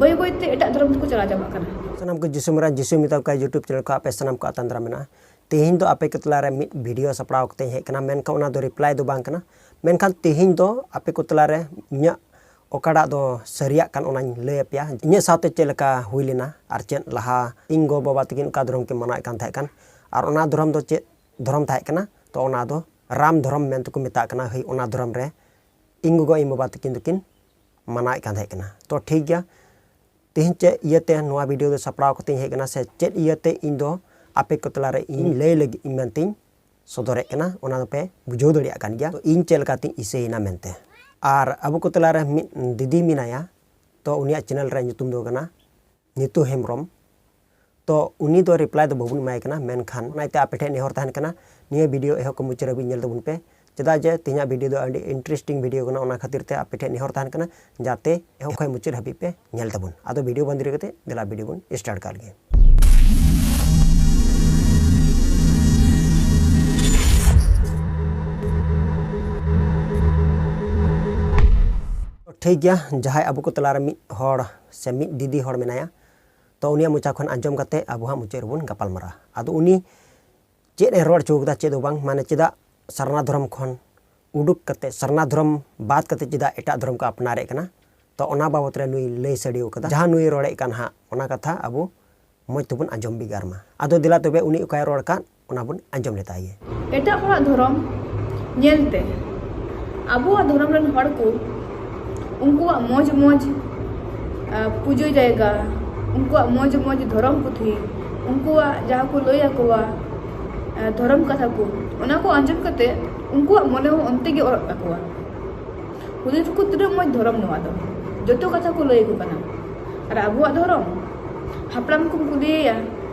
ᱵᱟᱹᱭ ᱵᱟᱹᱭ ᱛᱮ ᱮᱴᱟᱜ ᱫᱷᱚᱨᱚᱢ ᱛᱮᱠᱚ ᱪᱟᱞᱟᱣ ᱪᱟᱵᱟᱜ ᱠᱟᱱᱟ ᱥᱟᱱᱟᱢ ᱠᱚ ᱡᱤᱥᱩ ᱢᱮᱨᱟ ᱡᱤᱥᱩ ᱢᱮᱛᱟ ᱠᱚ ᱭᱩᱴᱩᱵᱽ ᱪᱮᱱᱮᱞ ᱠᱷᱚᱱ ᱟᱯᱮ ᱥᱟᱱᱟᱢ ᱠᱚ ᱟᱛᱟᱝ ᱫᱟᱨᱟᱢ ᱢᱮᱱᱟᱜᱼᱟ ᱛᱮᱦᱮᱧ ᱫᱚ ᱟᱯᱮ ᱠᱚ ᱛᱟᱞᱟ ᱨᱮ ᱢᱤᱫ ᱵᱷᱤᱰᱤᱭᱳ ᱥᱟᱯᱲᱟᱣ ᱠᱟᱛᱮ ᱦᱮᱡ ᱠᱟᱱᱟ ᱢᱮᱱᱠᱷᱟᱱ ᱚᱱᱟ ᱫᱚ ᱨᱤᱯᱞᱟᱭ ᱫᱚ ᱵᱟᱝ ᱠᱟᱱᱟ ᱢᱮᱱᱠᱷᱟᱱ ᱛᱮᱦᱮᱧ ᱫᱚ ᱟᱯᱮ ᱠᱚ ᱛᱟᱞᱟ ᱨᱮ ᱤᱧᱟᱹᱜ ᱚᱠᱟᱴᱟᱜ ᱫᱚ ᱥᱟᱹᱨᱤᱭᱟᱜ ᱠᱟᱱ ᱚᱱᱟᱧ ᱞᱟᱹᱭ ᱟᱯᱮᱭᱟ ᱤᱧᱟᱹᱜ ᱥᱟᱶᱛᱮ ᱪᱮᱫ ᱞᱮᱠᱟ ᱦᱩᱭ ᱞᱮᱱᱟ ᱟᱨ ᱪᱮᱫ ᱞᱟᱦᱟ ᱤᱧ ᱜᱚ ᱵᱟᱵᱟ ᱛᱟᱹᱠᱤᱱ ᱚᱠᱟ ᱫᱷᱚᱨᱚᱢ ᱠᱤᱱ ᱢᱟᱱᱟᱣᱮᱫ ᱠᱟᱱ ᱛᱟᱦᱮᱸ ᱠᱟᱱ ᱟᱨ ᱚᱱᱟ ᱫᱷᱚᱨᱚᱢ ᱫᱚ ᱪᱮᱫ ᱫᱷᱚᱨᱚᱢ ᱛᱟᱦᱮᱸ ᱠᱟᱱᱟ ᱛᱚ ᱚᱱᱟ ᱫᱚ ᱨᱟᱢ ᱫᱷᱚᱨᱚᱢ ᱢᱮᱱᱛᱮᱠᱚ ᱢᱮᱛᱟᱜ ᱠᱟᱱᱟ ᱦᱳᱭ ᱚᱱᱟ ᱫᱷᱚᱨᱚᱢ ᱨᱮ ᱤᱧ ᱜᱚᱜᱚ ᱤᱧ ᱵᱟᱵᱟ ᱛᱟᱹᱠᱤᱱ ᱫᱚᱠᱤᱱ ᱢᱟᱱᱟᱣᱮᱫ ᱠᱟᱱ ᱛᱟᱦᱮᱸ ᱠᱟᱱᱟ ᱛᱚ ᱴᱷᱤᱠ ᱜᱮᱭᱟ ᱛᱮᱦᱮᱧ ᱪᱮᱫ ᱤᱭᱟᱹᱛᱮ ᱱᱚᱣᱟ ᱵᱷᱤᱰᱤᱭᱳ ᱫᱚ ᱥᱟᱯᱲᱟᱣ ᱠᱟᱛᱮᱧ ᱦᱮᱡ ᱠᱟᱱᱟ ᱥᱮ ᱪᱮᱫ ᱤᱭᱟᱹᱛᱮ ᱤᱧ ᱫᱚ ᱟᱯᱮ ᱠᱚ ᱛᱟᱞᱟᱨᱮ ᱤᱧ ᱞᱟᱹᱭ ᱞᱟᱹᱜᱤᱫ ᱤᱧ ᱢᱮᱱᱛᱮᱧ ᱥᱚᱫᱚᱨᱮᱫ ᱠᱟᱱᱟ ᱚᱱᱟ ᱫᱚᱯᱮ ᱵᱩᱡᱷᱟᱹᱣ ᱫᱟᱲᱮᱭᱟᱜ ᱠᱟᱱ ᱜᱮᱭᱟ ᱤᱧ ᱪᱮᱫ ᱞᱮᱠᱟᱛᱤᱧ ᱤᱥᱟᱹᱭᱮᱱᱟ ᱢᱮᱱᱛᱮ ᱟᱨ ᱟᱵᱚ ᱠᱚ ᱛᱟᱞᱟᱨᱮ ᱢᱤᱫ ᱫᱤᱫᱤ ᱢᱮᱱᱟᱭᱟ ᱛᱚ ᱩᱱᱤᱭᱟᱜ ᱪᱮᱱᱮᱞ ᱨᱮ ᱧᱩᱛᱩᱢ ᱫᱚ ᱠᱟᱱᱟ ᱱᱤᱛᱩ ᱦᱮᱢᱵᱨᱚᱢ ᱛᱚ ᱩᱱᱤ ᱫᱚ ᱨᱤᱯᱞᱟᱭ ᱫᱚ ᱵᱟᱵᱚᱱ ᱮᱢᱟᱭ ᱠᱟᱱᱟ ᱢᱮᱱᱠᱷᱟᱱ ᱚᱱᱟᱛᱮ ᱟᱯᱮ ᱴᱷᱮᱱ ᱱᱮᱦᱚᱨ ᱛᱟᱦᱮᱱ ᱠᱟᱱᱟ ᱱᱤᱭᱟᱹ ᱵᱷᱤᱰᱤᱭᱳ ᱮᱦᱚᱵ ᱠᱷᱚᱱ ᱢᱩᱪᱟᱹᱫ ᱦᱟᱹᱵᱤᱡ ᱧᱮᱞ ᱛᱟᱵᱚᱱ ᱯᱮ ᱪᱮᱫᱟᱜ ᱡᱮ ᱛᱮᱦᱮᱧᱟᱜ ᱵᱷᱤᱰᱤᱭᱳ ᱫᱚ ᱟᱹᱰᱤ ᱤᱱᱴᱟᱨᱮᱥᱴᱤᱝ ᱵᱷᱤᱰᱤᱭᱳ ᱠᱟᱱᱟ ᱚᱱᱟ ᱠᱷᱟᱹᱛᱤᱨ ᱛᱮ ᱟᱯᱮ ᱴᱷᱮᱱ ᱱᱮᱦᱚᱨ ᱛᱟᱦᱮᱱ ᱠᱟᱱᱟ ᱡᱟᱛᱮ ᱮᱦᱚᱵ ᱠᱷᱚᱱ ᱢᱩᱪᱟᱹᱫ ᱦᱟᱹᱵᱤᱡ ᱯᱮ ᱧᱮᱞ ᱛᱟᱵᱚᱱ ᱟᱫᱚ ᱵᱷᱤᱰᱤᱭᱳ ᱵᱟᱝ ᱫᱮᱨᱤ ᱠᱟᱛᱮ ᱫᱮᱞᱟ ᱵᱷᱤᱰᱤᱭᱳ ᱵᱚᱱ ᱥᱴᱟᱨᱴ ᱠᱟᱜ ᱞᱮᱜᱮ ᱴᱷᱤᱠ ᱜᱮᱭᱟ ᱡᱟᱦᱟᱸᱭ ᱟᱵᱚ ᱠᱚ ᱛᱟᱞᱟᱨᱮ ᱢᱤᱫ ᱦᱚᱲ ᱥᱮ ᱢᱤᱫ ᱫᱤᱫᱤ ᱦᱚᱲ ᱢᱮᱱᱟᱭᱟ ᱛᱚ ᱩᱱᱤᱭᱟᱜ ᱢᱚᱪᱟ ᱠᱷᱚᱱ ᱟᱸᱡᱚᱢ ᱠᱟᱛᱮ ᱟᱵᱚ ᱦᱟᱸᱜ ᱢᱩᱪᱟᱹᱫ ᱨᱮᱵᱚᱱ ᱜᱟᱯᱟᱞ ᱢᱟᱨᱟᱜᱼᱟ ᱟᱫᱚ ᱩᱱᱤ ᱪᱮᱫ ᱮ ᱨᱚᱲ ᱦᱚᱪᱚ ᱠᱟᱫᱟ ᱪᱮᱫ ᱦᱚᱸ ᱵᱟᱝ ᱢᱟᱱᱮ ᱪᱮᱫᱟᱜ ᱥᱟᱨᱱᱟ ᱫᱷᱚᱨᱚᱢ ᱠᱷᱚᱱ ᱩᱰᱩᱠ ᱠᱟᱛᱮ ᱥᱟᱨᱱᱟ ᱫᱷᱚᱨᱚᱢ ᱵᱟᱫ ᱠᱟᱛᱮ ᱪᱮᱫᱟᱜ ᱮᱴᱟᱜ ᱫᱷᱚᱨᱚᱢ ᱠᱚ ᱟᱯᱱᱟᱨᱮᱫ ᱠᱟᱱᱟ ᱛᱚ ᱚᱱᱟ ᱵᱟᱵᱚᱛ ᱨᱮ ᱱᱩᱭ ᱞᱟᱹᱭ ᱥᱟᱹᱲᱤ ᱠᱟᱫᱟ ᱡᱟᱦᱟᱸ ᱱᱩᱭ ᱨᱚᱲᱮᱫ ᱠᱟᱱ ᱦᱟᱸᱜ ᱚᱱᱟ ᱠᱟᱛᱷᱟ ᱟᱵᱚ ᱢᱚᱡᱽ ᱛᱮᱵᱚᱱ ᱟᱸᱡᱚᱢ ᱵᱷᱮᱜᱟᱨ ᱢᱟ ᱟᱫᱚ ᱫᱮᱞᱟ ᱛᱚᱵᱮ ᱩᱱᱤ ᱚᱠᱟᱭ ᱨᱚᱲ ᱠᱟᱫ ᱚᱱᱟ ᱵᱚᱱ ᱟᱸᱡᱚᱢ ᱞᱮᱛᱟᱭ ᱜᱮ ᱮᱴᱟᱜ ᱦᱚᱲᱟᱜ ᱫᱷᱚᱨᱚᱢ ᱧᱮᱞᱛᱮ ᱟᱵᱚᱣᱟᱜ ᱫᱷᱚᱨᱚᱢ ᱨᱮᱱ ᱦᱚᱲ ᱠᱚ ᱩᱱᱠᱩᱣᱟᱜ ᱢᱚᱡᱽ ᱢᱚᱡᱽ ᱯᱩᱡᱟᱹ ᱡᱟᱭᱜᱟ ᱩᱱᱠᱩᱣᱟᱜ ᱢᱚᱡᱽ ᱢᱚᱡᱽ ᱫᱷᱚᱨᱚᱢ ᱯᱩᱛᱷᱤ ᱩᱱᱠᱩᱣᱟᱜ ᱡᱟᱦᱟᱸ ᱠᱚ ᱞᱟᱹᱭ ᱟᱠᱚᱣᱟ ᱫᱷᱚᱨᱚᱢ ᱠᱟᱛᱷᱟ ᱠᱚ ᱚᱱᱟ ᱠᱚ ᱟᱸᱡᱚᱢ ᱠᱟᱛᱮ ᱩᱱᱠᱩᱣᱟᱜ ᱢᱚᱱᱮ ᱦᱚᱸ ᱚᱱᱛᱮ ᱜᱮ ᱚᱨᱚᱜ ᱛᱟᱠᱚᱣᱟ ᱦᱩᱫᱤᱥ ᱠᱚ ᱛᱤᱱᱟᱹᱜ ᱢᱚᱡᱽ ᱫᱷᱚᱨᱚᱢ ᱱᱚᱣᱟ ᱫᱚ ᱡᱚᱛᱚ ᱠᱟᱛᱷᱟ ᱠᱚ ᱞᱟᱹᱭ ᱟᱠᱚ ᱠᱟᱱᱟ ᱟᱨ ᱟᱵᱚᱣᱟᱜ ᱫᱷᱚᱨᱚᱢ ᱦᱟᱯᱲᱟᱢ ᱠᱚᱢ ᱠᱩᱞᱤᱭᱮᱭᱟ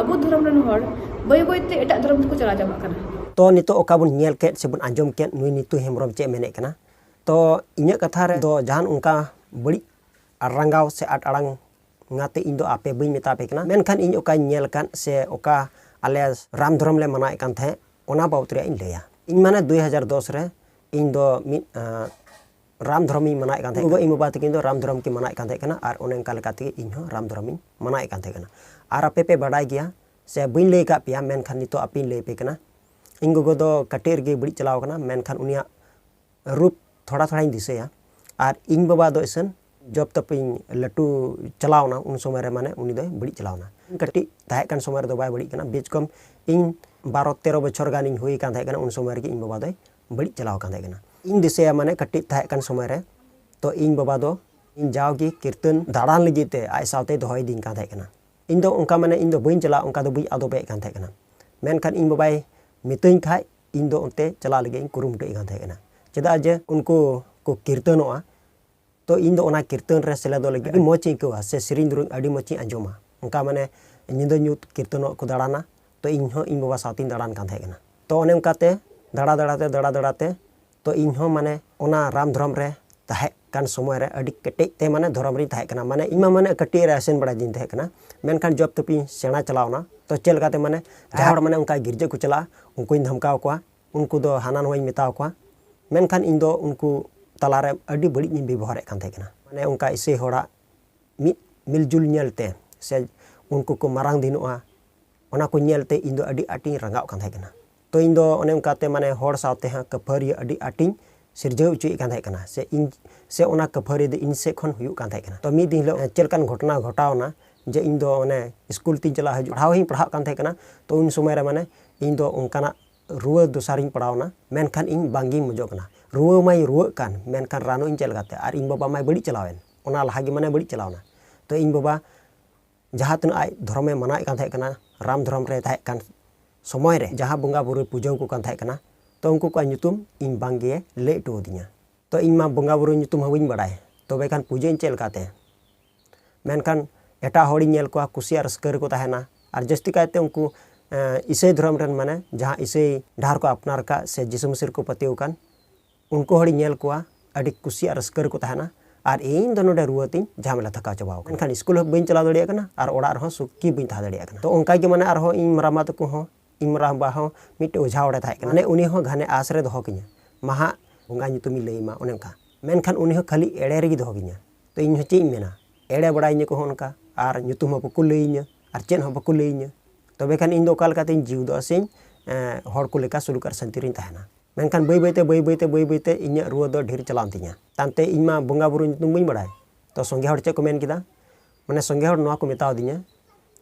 ᱟᱵᱚ ᱫᱷᱚᱨᱚᱢ ᱨᱮᱱ ᱦᱚᱲ ᱵᱟᱹᱭ ᱵᱟᱹᱭ ᱛᱮ ᱮᱴᱟᱜ ᱫᱷᱚᱨᱚᱢ ᱛᱮᱠᱚ ᱪᱟᱞᱟᱣ ᱪᱟᱵᱟᱜ ᱠᱟᱱᱟ ᱛᱚ ᱱᱤᱛᱚᱜ ᱚᱠᱟ ᱵᱚᱱ ᱧᱮᱞ ᱠᱮᱫ ᱥᱮ ᱵᱚᱱ ᱟᱸᱡᱚᱢ ᱠᱮᱫ ᱱᱩᱭ ᱱᱤᱛᱩ ᱦᱮᱢᱵᱨᱚᱢ ᱪᱮᱫ ᱢᱮᱱᱮᱫ ᱠᱟᱱᱟ ᱛᱚ ᱤᱧᱟᱹᱜ ᱠᱟᱛᱷᱟ ᱨᱮ ᱫᱚ ᱡᱟᱦᱟᱱ ᱚᱱᱠᱟ ᱵᱟᱹᱲᱤᱡ ᱟᱨ ᱨᱟᱸᱜᱟᱣ ᱥᱮ ᱟᱴ ᱟᱲᱟᱝ ᱚᱱᱟᱛᱮ ᱤᱧ ᱫᱚ ᱟᱯᱮ ᱵᱟᱹᱧ ᱢᱮᱛᱟ ᱯᱮ ᱠᱟᱱᱟ ᱢᱮᱱᱠᱷᱟᱱ ᱤᱧ ᱚᱠᱟᱧ ᱧᱮᱞ ᱟᱠᱟᱫ ᱥᱮ ᱚᱠᱟ ᱟᱞᱮ ᱨᱟᱢ ᱫᱷᱚᱨᱚᱢ ᱞᱮ ᱢᱟᱱᱟᱣᱮᱫ ᱠᱟᱱ ᱛᱟᱦᱮᱸᱫ ᱚᱱᱟ ᱵᱟᱵᱚᱛ ᱨᱮᱭᱟᱜ ᱤᱧ ᱞᱟᱹᱭᱟ ᱤᱧ ᱢᱟᱱᱮ ᱫᱩᱭ ᱦᱟᱡᱟᱨ ᱫᱚᱥ ᱨᱮ ᱤᱧ ᱫᱚ ᱢᱤᱫ ᱨᱟᱢ ᱫᱷᱚᱨᱚᱢᱤᱧ ᱢᱟᱱᱟᱣᱮᱫ ᱠᱟᱱ ᱛᱟᱦᱮᱸ ᱠᱟᱱᱟ ᱤᱧ ᱵᱟᱵᱟ ᱛᱟᱹᱠᱤᱱ ᱫᱚ ᱨᱟᱢ ᱫᱷᱚᱨᱚᱢ ᱠᱤᱱ ᱢᱟᱱᱟᱣᱮᱫ ᱠᱟᱱ ᱛᱟᱦᱮᱸ ᱠᱟᱱᱟ ᱟᱨ ᱚᱱᱮ ᱚᱱᱠᱟ ᱞᱮᱠᱟ ᱛᱮᱜᱮ ᱤᱧ ᱦᱚᱸ ᱨᱟᱢ ᱫᱷᱚᱨᱚᱢᱤᱧ ᱢᱟᱱᱟᱣᱮᱫ ᱠᱟᱱ ᱛᱟᱦᱮᱸ ᱠᱟᱱᱟ ᱟᱨ ᱟᱯᱮ ᱯᱮ ᱵᱟᱰᱟᱭ ᱜᱮᱭᱟ ᱥᱮ ᱵᱟᱹᱧ ᱞᱟᱹᱭ ᱟᱠᱟᱫ ᱯᱮᱭᱟ ᱢᱮᱱᱠᱷᱟᱱ ᱱᱤᱛᱚᱜ ᱟᱯᱮᱧ ᱞᱟᱹᱭ ᱟᱯᱮ ᱠᱟᱱᱟ ᱤᱧ ᱜᱚᱜᱚ ᱫᱚ ᱠᱟᱹᱴᱤᱡ ᱨᱮᱜᱮ ᱵᱟᱹᱲᱤᱡ ᱪᱟᱞᱟᱣ ᱟᱠᱟᱱᱟ ᱢᱮᱱᱠᱷᱟᱱ ᱩᱱᱤᱭᱟᱜ ᱨᱩᱯ ᱛᱷᱚᱲᱟ ᱛᱷᱚᱲᱟᱧ ᱫᱤᱥᱟᱹᱭᱟ ᱟᱨ ᱤᱧ ᱵᱟᱵᱟ ᱫᱚ ᱤᱥᱟᱹᱱ ᱡᱚᱵ ᱛᱟᱯᱤᱧ ᱞᱟᱹᱴᱩ ᱪᱟᱞᱟᱣᱱᱟ ᱩᱱ ᱥᱚᱢᱚᱭ ᱨᱮ ᱢᱟᱱᱮ ᱩᱱᱤ ᱫᱚᱭ ᱵᱟᱹᱲᱤᱡ ᱪᱟᱞᱟᱣᱱᱟ ᱠᱟᱹᱴᱤᱡ ᱛᱟᱦᱮᱸ ᱠᱟᱱ ᱥᱚᱢᱚᱭ ᱨᱮᱫᱚ ᱵᱟᱭ ᱵᱟᱹᱲᱤᱡ ᱠᱟᱱᱟ ᱵᱮᱡ ᱠᱚᱢ ᱤᱧ ᱵᱟᱨᱚ ᱛᱮᱨᱚ ᱵᱚᱪᱷᱚᱨ ᱜᱟᱱᱤᱧ ᱦᱩᱭ ᱟᱠᱟᱱ ᱛᱟᱦᱮᱸ ᱠᱟᱱᱟ ᱩᱱ ᱥᱚᱢᱚᱭ ᱨᱮᱜᱮ ᱤᱧ ᱵᱟᱵᱟ ᱫᱚᱭ ᱵᱟᱹᱲᱤᱡ ᱪᱟᱞᱟᱣ ᱟᱠᱟᱱ ᱛᱟᱦᱮᱸ ᱠᱟᱱᱟ ᱤᱧ ᱫᱤᱥᱟᱹᱭᱟ ᱢᱟᱱᱮ ᱠᱟᱹᱴᱤᱡ ᱛᱟᱦᱮᱸ ᱠᱟᱱ ᱥᱚᱢᱚᱭ ᱨᱮ ᱛᱚ ᱤᱧ ᱵᱟᱵᱟ ᱫᱚ ᱤᱧ ᱡᱟᱣᱜᱮ ᱠᱤᱨᱛᱚᱱ ᱫᱟᱬᱟᱱ ᱞᱟᱹᱜᱤᱫ ᱛᱮ ᱟᱡ ᱥᱟᱶᱛᱮ ᱫᱚᱦᱚᱭᱤᱫᱤᱧ ᱠᱟᱱ ᱛᱟᱦᱮᱸ ᱠᱟᱱᱟ ᱤᱧ ᱫᱚ ᱚᱱᱠᱟ ᱢᱟᱱᱮ ᱤᱧ ᱫᱚ ᱵᱟᱹᱧ ᱪᱟᱞᱟᱜᱼᱟ ᱚᱱᱠᱟ ᱫᱚ ᱵᱟᱹᱧ ᱟᱫᱚᱵᱮᱫ ᱠᱟᱱ ᱛᱟᱦᱮᱸ ᱠᱟᱱᱟ ᱢᱮᱱᱠᱷᱟᱱ ᱤᱧ ᱵᱟᱵᱟᱭ ᱢᱤᱛᱟᱹᱧ ᱠᱷᱟᱡ ᱤᱧ ᱫᱚ ᱚᱱᱛᱮ ᱪᱟᱞᱟᱜ ᱞᱟᱹᱜᱤᱫ ᱤᱧ ᱠᱩᱨᱩᱢᱩᱴᱩᱭᱮᱫ ᱠᱟᱱ ᱛᱟᱦᱮᱸ ᱠᱟᱱᱟ ᱪᱮᱫᱟᱜ ᱡᱮ ᱩᱱᱠᱩ ᱠᱚ ᱠᱤᱨᱛᱚᱱᱚᱜᱼᱟ ᱛᱚ ᱤᱧ ᱫᱚ ᱚᱱᱟ ᱠᱤᱨᱛᱚᱱ ᱨᱮ ᱥᱮᱞᱮᱫᱚᱜ ᱞᱟᱹᱜᱤᱫ ᱟᱹᱰᱤ ᱢᱚᱡᱽ ᱤᱧ ᱟᱹᱭᱠᱟᱹᱣᱟ ᱥᱮ ᱥᱮᱨᱮᱧ ᱫᱩᱨᱟᱹᱝ ᱟᱹᱰᱤ ᱢᱚᱡᱽ ᱤᱧ ᱟᱸᱡᱚᱢᱟ ᱚᱱᱠᱟ ᱢᱟᱱᱮ ᱧᱤᱫᱟᱹ ᱧᱩᱛ ᱠᱤᱨᱛᱚᱱᱚᱜ ᱠᱚ ᱫᱟᱬᱟᱱᱟ ᱛᱚ ᱤᱧ ᱦᱚᱸ ᱤᱧ ᱵᱟᱵᱟ ᱥᱟᱶᱛᱮᱧ ᱫᱟᱬᱟᱱ ᱠᱟᱱ ᱛᱟᱦᱮᱸ ᱠᱟᱱᱟ ᱛᱚ ᱚᱱᱮ ᱚᱱᱠᱟᱛᱮ ᱫᱟᱬᱟ ᱫᱟᱬᱟᱛᱮ ᱫᱟᱬᱟ ᱫᱟᱬᱟᱛᱮ ᱛᱚ ᱤᱧ ᱦᱚᱸ ᱢᱟᱱᱮ ᱚᱱᱟ ᱨᱟᱢ ᱫᱷᱚᱨᱚᱢ ᱨᱮ ᱛᱟᱦᱮᱸ ᱠᱟᱱ ᱥᱚᱢᱚᱭ ᱨᱮ ᱟᱹᱰᱤ ᱠᱮᱴᱮᱡ ᱛᱮ ᱢᱟᱱᱮ ᱫᱷᱚᱨᱚᱢ ᱨᱤᱧ ᱛᱟᱦᱮᱸ ᱠᱟᱱᱟ ᱢᱟᱱᱮ ᱤᱧ ᱢᱟ ᱢᱟᱱᱮ ᱠᱟᱹᱴᱤᱡ ᱨᱮ ᱟᱥᱮᱱ ᱵᱟᱲᱟᱭᱫᱤᱧ ᱛᱟᱦᱮᱸ ᱠᱟᱱᱟ ᱢᱮᱱᱠᱷᱟᱱ ᱡᱚᱵ ᱛᱚᱯᱤᱧ ᱥᱮᱬᱟ ᱪᱟᱞᱟᱣᱱᱟ ᱛᱚ ᱪᱮᱫ ᱞᱮᱠᱟᱛᱮ ᱢᱟᱱᱮ ᱡᱟᱦᱟᱸ ᱦᱚᱲ ᱢᱟᱱᱮ ᱚᱱᱠᱟ ᱜᱤᱨᱡᱟᱹ ᱠᱚ ᱪᱟᱞᱟᱜᱼᱟ ᱩᱱᱠᱩᱧ ᱫᱷᱟᱢᱠᱟᱣ ᱠᱚᱣᱟ ᱩᱱᱠᱩ ᱫᱚ ᱦᱟᱱᱟ ᱱᱚᱣᱟᱧ ᱢᱮᱛᱟ ᱟᱠᱚᱣᱟ ᱢᱮᱱᱠᱷᱟᱱ ᱤᱧ ᱫᱚ ᱩᱱᱠᱩ ᱛᱟᱞᱟ ᱨᱮ ᱟᱹᱰᱤ ᱵᱟᱹᱲᱤᱡ ᱤᱧ ᱵᱮᱵᱚᱦᱟᱨᱮᱫ ᱠᱟᱱ ᱛᱟᱦᱮᱸ ᱠᱟᱱᱟ ᱢᱟᱱᱮ ᱚᱱᱠᱟ ᱤᱥᱟᱹᱭ ᱦᱚᱲᱟᱜ ᱢᱤᱫ ᱢᱤᱞ ᱡᱩᱞ ᱧᱮᱞ ᱛᱮ ᱥᱮ ᱩᱱᱠᱩ ᱠᱚ ᱢᱟᱨᱟᱝ ᱫᱤᱱᱚᱜᱼᱟ ᱚᱱᱟ ᱠᱚ ᱧᱮᱞ ᱛᱮ ᱤᱧ ᱫᱚ ᱟᱹᱰᱤ ᱟᱸᱴ ᱤᱧ ᱨᱟᱸᱜᱟᱣᱜ ᱠᱟᱱ ᱛᱟᱦᱮᱸ ᱠᱟᱱᱟ ᱛᱚ ᱤᱧ ᱫᱚ ᱚᱱᱮ ᱚᱱᱠᱟ ᱛᱮ ᱢᱟᱱᱮ ᱦᱚᱲ ᱥᱟᱶᱛᱮ ᱦᱚᱸ ᱠᱟᱹᱯᱷᱟᱹᱨᱤ ᱟᱹᱰᱤ ᱟᱸᱴ ᱤᱧ ᱥᱤᱨᱡᱟᱹᱣ ᱚᱪᱚᱭᱮᱫ ᱠᱟᱱ ᱛᱟᱦᱮᱸ ᱠᱟᱱᱟ ᱥᱮ ᱤᱧ ᱥᱮ ᱚᱱᱟ ᱠᱟᱹᱯᱷᱟᱹᱨᱤ ᱫᱚ ᱤᱧ ᱥᱮᱫ ᱠᱷᱚᱱ ᱦᱩᱭᱩᱜ ᱠᱟᱱ ᱛᱟᱦᱮᱸ ᱠᱟᱱᱟ ᱛᱚ ᱢᱤᱫ ᱫᱤᱱ ᱦᱤᱞᱳᱜ ᱪᱮᱫ ᱞᱮᱠᱟᱱ ᱜᱷᱚᱴᱚᱱᱟ ᱜᱷᱚᱴᱟᱣᱱᱟ ᱡᱮ ᱤᱧ ᱫᱚ ᱚᱱᱮ ᱥᱠᱩᱞ ᱛᱤᱧ ᱪᱟᱞᱟᱜ ᱦᱤᱡᱩᱜ ᱯᱟᱲᱦᱟᱣ ᱦᱚᱸᱧ ᱯᱟᱲᱦᱟᱜ ᱠᱟᱱ ᱛᱟᱦᱮᱸ ᱠᱟᱱᱟ ᱛᱚ ᱩᱱ ᱥᱚᱢᱚᱭ ᱨᱮ ᱢᱟᱱᱮ ᱤᱧ ᱫᱚ ᱚᱱᱠᱟᱱᱟᱜ ᱨᱩᱣᱟᱹ ᱫᱚᱥᱟ ᱨᱤᱧ ᱯᱟᱲᱟᱣ ᱮᱱᱟ ᱢᱮᱱᱠᱷᱟᱱ ᱤᱧ ᱵᱟᱝ ᱜᱤᱧ ᱢᱚᱡᱚᱜ ᱠᱟᱱᱟ ᱨᱩᱣᱟᱹ ᱢᱟᱹᱧ ᱨᱩᱣᱟᱹᱜ ᱠᱟᱱ ᱢᱮᱱᱠᱷᱟᱱ ᱨᱟᱱᱚᱜ ᱤᱧ ᱪᱮᱫ ᱞᱮᱠᱟᱛᱮ ᱟᱨ ᱤᱧ ᱵᱟᱵᱟ ᱢᱟᱭ ᱵᱟᱹᱲᱤᱡ ᱪᱟᱞᱟᱣ ᱮᱱ ᱚᱱᱟ ᱞᱟᱦᱟ ᱜᱮ ᱢᱟᱱᱮ ᱵᱟᱹᱲᱤᱡ ᱪᱟᱞᱟᱣ ᱮᱱᱟ ᱛᱚ ᱤᱧ ᱵᱟᱵᱟ ᱡᱟᱦᱟᱸ ᱛᱤᱱᱟᱹᱜ ᱟᱡ ᱫᱷᱚᱨᱚᱢ ᱮ ᱢᱟᱱᱟᱣᱮᱫ ᱠᱟᱱ ᱛᱟᱦᱮᱸ ᱠᱟᱱᱟ ᱨᱟᱢ ᱫᱷᱚᱨᱚᱢ ᱨᱮ ᱛᱟᱦᱮᱸ ᱠᱟᱱ ᱥᱚᱢᱚᱭ ᱨᱮ ᱡᱟᱦᱟᱸ ᱵᱚᱸᱜᱟ ᱵᱩᱨᱩᱭ ᱯᱩᱡᱟᱹ ᱟᱠᱚ ᱠᱟᱱ ᱛᱟᱦᱮᱸ ᱠᱟᱱᱟ ᱛᱚ ᱩᱱᱠᱩ ᱠᱚᱣᱟᱜ ᱧᱩᱛᱩᱢ ᱤᱧ ᱵᱟᱝ ᱜᱮ ᱞᱟᱹᱭ ᱦᱚᱴᱚ ᱟᱹᱫᱤᱧᱟ ᱛᱚ ᱤᱧ ᱢᱟ ᱵᱚᱸᱜᱟ ᱵᱩᱨᱩ ᱧᱩᱛᱩᱢ ᱦᱚᱸ ᱵᱟᱹᱧ ᱵᱟᱲᱟᱭ ᱛᱚᱵᱮ ᱠᱷᱟᱱ ᱯᱩᱡᱟᱹᱜ ᱤᱧ ᱪᱮᱫ ᱞᱮᱠᱟᱛᱮ ᱢᱮᱱᱠᱷᱟᱱ ᱮᱴᱟᱜ ᱦᱚᱲᱤᱧ ᱧᱮᱞ ᱠᱚᱣᱟ ᱠᱩᱥᱤ ᱟᱨ ᱨᱟᱹᱥᱠᱟᱹ ᱨᱮᱠᱚ ᱛᱟᱦᱮᱱᱟ ᱟᱨ ᱡᱟᱹᱥᱛᱤ ᱠᱟᱭᱛᱮ ᱩᱱᱠᱩ ᱤᱥᱟᱹᱭ ᱫᱷᱚᱨᱚᱢ ᱨᱮᱱ ᱢᱟᱱᱮ ᱡᱟᱦᱟᱸ ᱤᱥᱟᱹᱭ ᱰᱟᱦᱟᱨ ᱠᱚ ᱟᱯᱱᱟᱨ ᱟᱠᱟᱫ ᱥᱮ ᱡᱤᱥᱩ ᱢᱟᱹᱥᱤ ᱨᱮᱠᱚ ᱯᱟᱹᱛᱭᱟᱹᱣ ᱟᱠᱟᱱ ᱩᱱᱠᱩ ᱦᱚᱲᱤᱧ ᱧᱮᱞ ᱠᱚᱣᱟ ᱟᱹᱰᱤ ᱠᱩᱥᱤ ᱟᱨ ᱨᱟᱹᱥᱠᱟᱹ ᱨᱮᱠᱚ ᱛᱟᱦᱮᱱᱟ ᱟᱨ ᱤᱧ ᱫᱚ ᱱᱚᱰᱮ ᱨᱩᱣᱟᱹ ᱛᱤᱧ ᱡᱷᱟᱢᱮᱞᱟ ᱛᱷᱟᱠᱟᱣ ᱪᱟᱵᱟᱣ ᱟᱠᱟᱱᱟ ᱢᱮᱱᱠᱷᱟᱱ ᱥᱠᱩᱞ ᱦᱚᱸ ᱵᱟᱹᱧ ᱪᱟᱞᱟᱣ ᱫᱟᱲᱮᱭᱟᱜ ᱠᱟᱱᱟ ᱟᱨ ᱚᱲᱟᱜ ᱨᱮᱦᱚᱸ ᱥᱩᱠᱷ ᱜᱮ ᱵᱟᱹᱧ ᱛᱟᱦᱮᱸ ᱫᱟᱲᱮᱭᱟᱜ ᱠᱟᱱᱟ ᱛᱚ ᱚᱱᱠᱟ ᱜᱮ ᱢᱟᱱᱮ ᱟᱨᱦᱚᱸ ᱤᱧ ᱢᱟᱨᱟᱢᱵᱟ ᱛᱟᱠᱚ ᱦᱚᱸ ᱤᱧ ᱢᱟᱨᱟᱢᱵᱟ ᱦᱚᱸ ᱢᱤᱫᱴᱮᱡ ᱚᱡᱷᱟ ᱦᱚᱲᱮ ᱛᱟᱦᱮᱸ ᱠᱟᱱᱟ ᱢᱟᱱᱮ ᱩᱱᱤ ᱦᱚᱸ ᱜᱷᱟᱱᱮ ᱟᱥ ᱨᱮ ᱫᱚᱦᱚ ᱠᱤᱧᱟ ᱢᱟᱦᱟᱜ ᱵᱚᱸᱜᱟ ᱧᱩᱛᱩᱢᱤᱧ ᱞᱟᱹᱭᱟᱢᱟ ᱚᱱᱮ ᱚᱱᱠᱟ ᱢᱮᱱᱠᱷᱟᱱ ᱩᱱᱤ ᱦᱚᱸ ᱠᱷᱟᱹᱞᱤ ᱮᱲᱮ ᱨᱮᱜᱮ ᱫᱚᱦᱚ ᱠᱤᱧᱟ ᱛᱚ ᱤᱧ ᱦᱚᱸ ᱪᱮᱫ ᱤᱧ ᱢᱮᱱᱟ ᱮᱲᱮ ᱵᱟᱲᱟᱭᱤᱧᱟᱹ ᱠᱚ ᱦᱚᱸᱜᱼᱚ ᱱᱚᱝᱠᱟ ᱟᱨ ᱧᱩᱛᱩᱢ ᱦᱚᱸ ᱵᱟᱠᱚ ᱞᱟᱹᱭᱟᱹᱧᱟᱹ ᱟᱨ ᱪᱮᱫ ᱦᱚᱸ ᱵᱟᱠᱚ ᱞᱟᱹᱭᱟᱹᱧᱟᱹ ᱛᱚᱵᱮ ᱠᱷᱟᱱ ᱤᱧ ᱫᱚ ᱚᱠᱟ ᱞᱮᱠᱟᱛᱮᱧ ᱡᱤᱣᱮᱫᱚᱜᱼᱟ ᱥᱮᱧ ᱦᱚᱲ ᱠᱚ ᱞᱮᱠᱟ ᱥᱩᱞᱩᱠ ᱟᱨ ᱥᱟᱹᱱᱛᱤ ᱨᱮᱧ ᱛᱟᱦᱮᱱᱟ ᱢᱮᱱᱠᱷᱟᱱ ᱵᱟᱹᱭ ᱵᱟᱹᱭ ᱛᱮ ᱵᱟᱹᱭ ᱵᱟᱹᱭ ᱛᱮ ᱵᱟᱹᱭ ᱵᱟᱹᱭ ᱛᱮ ᱤᱧᱟᱹᱜ ᱨᱩᱣᱟᱹ ᱫᱚ ᱰᱷᱮᱨ ᱪᱟᱞᱟᱣᱮᱱ ᱛᱤᱧᱟᱹ ᱛᱟᱭᱚᱢᱛᱮ ᱤᱧ ᱢᱟ ᱵᱚᱸᱜᱟ ᱵᱩᱨᱩ ᱧᱩᱛᱩᱢ ᱵᱟᱹᱧ ᱵᱟᱲᱟᱭ ᱛᱚ ᱥᱚᱸᱜᱮ ᱦᱚᱲ ᱪᱮᱫ ᱠᱚ ᱢᱮᱱ ᱠᱮᱫᱟ ᱢᱟᱱᱮ ᱥᱚᱸᱜᱮ ᱦᱚᱲ ᱱᱚᱣᱟ ᱠᱚ ᱢᱮᱛᱟᱣᱫᱤᱧᱟᱹ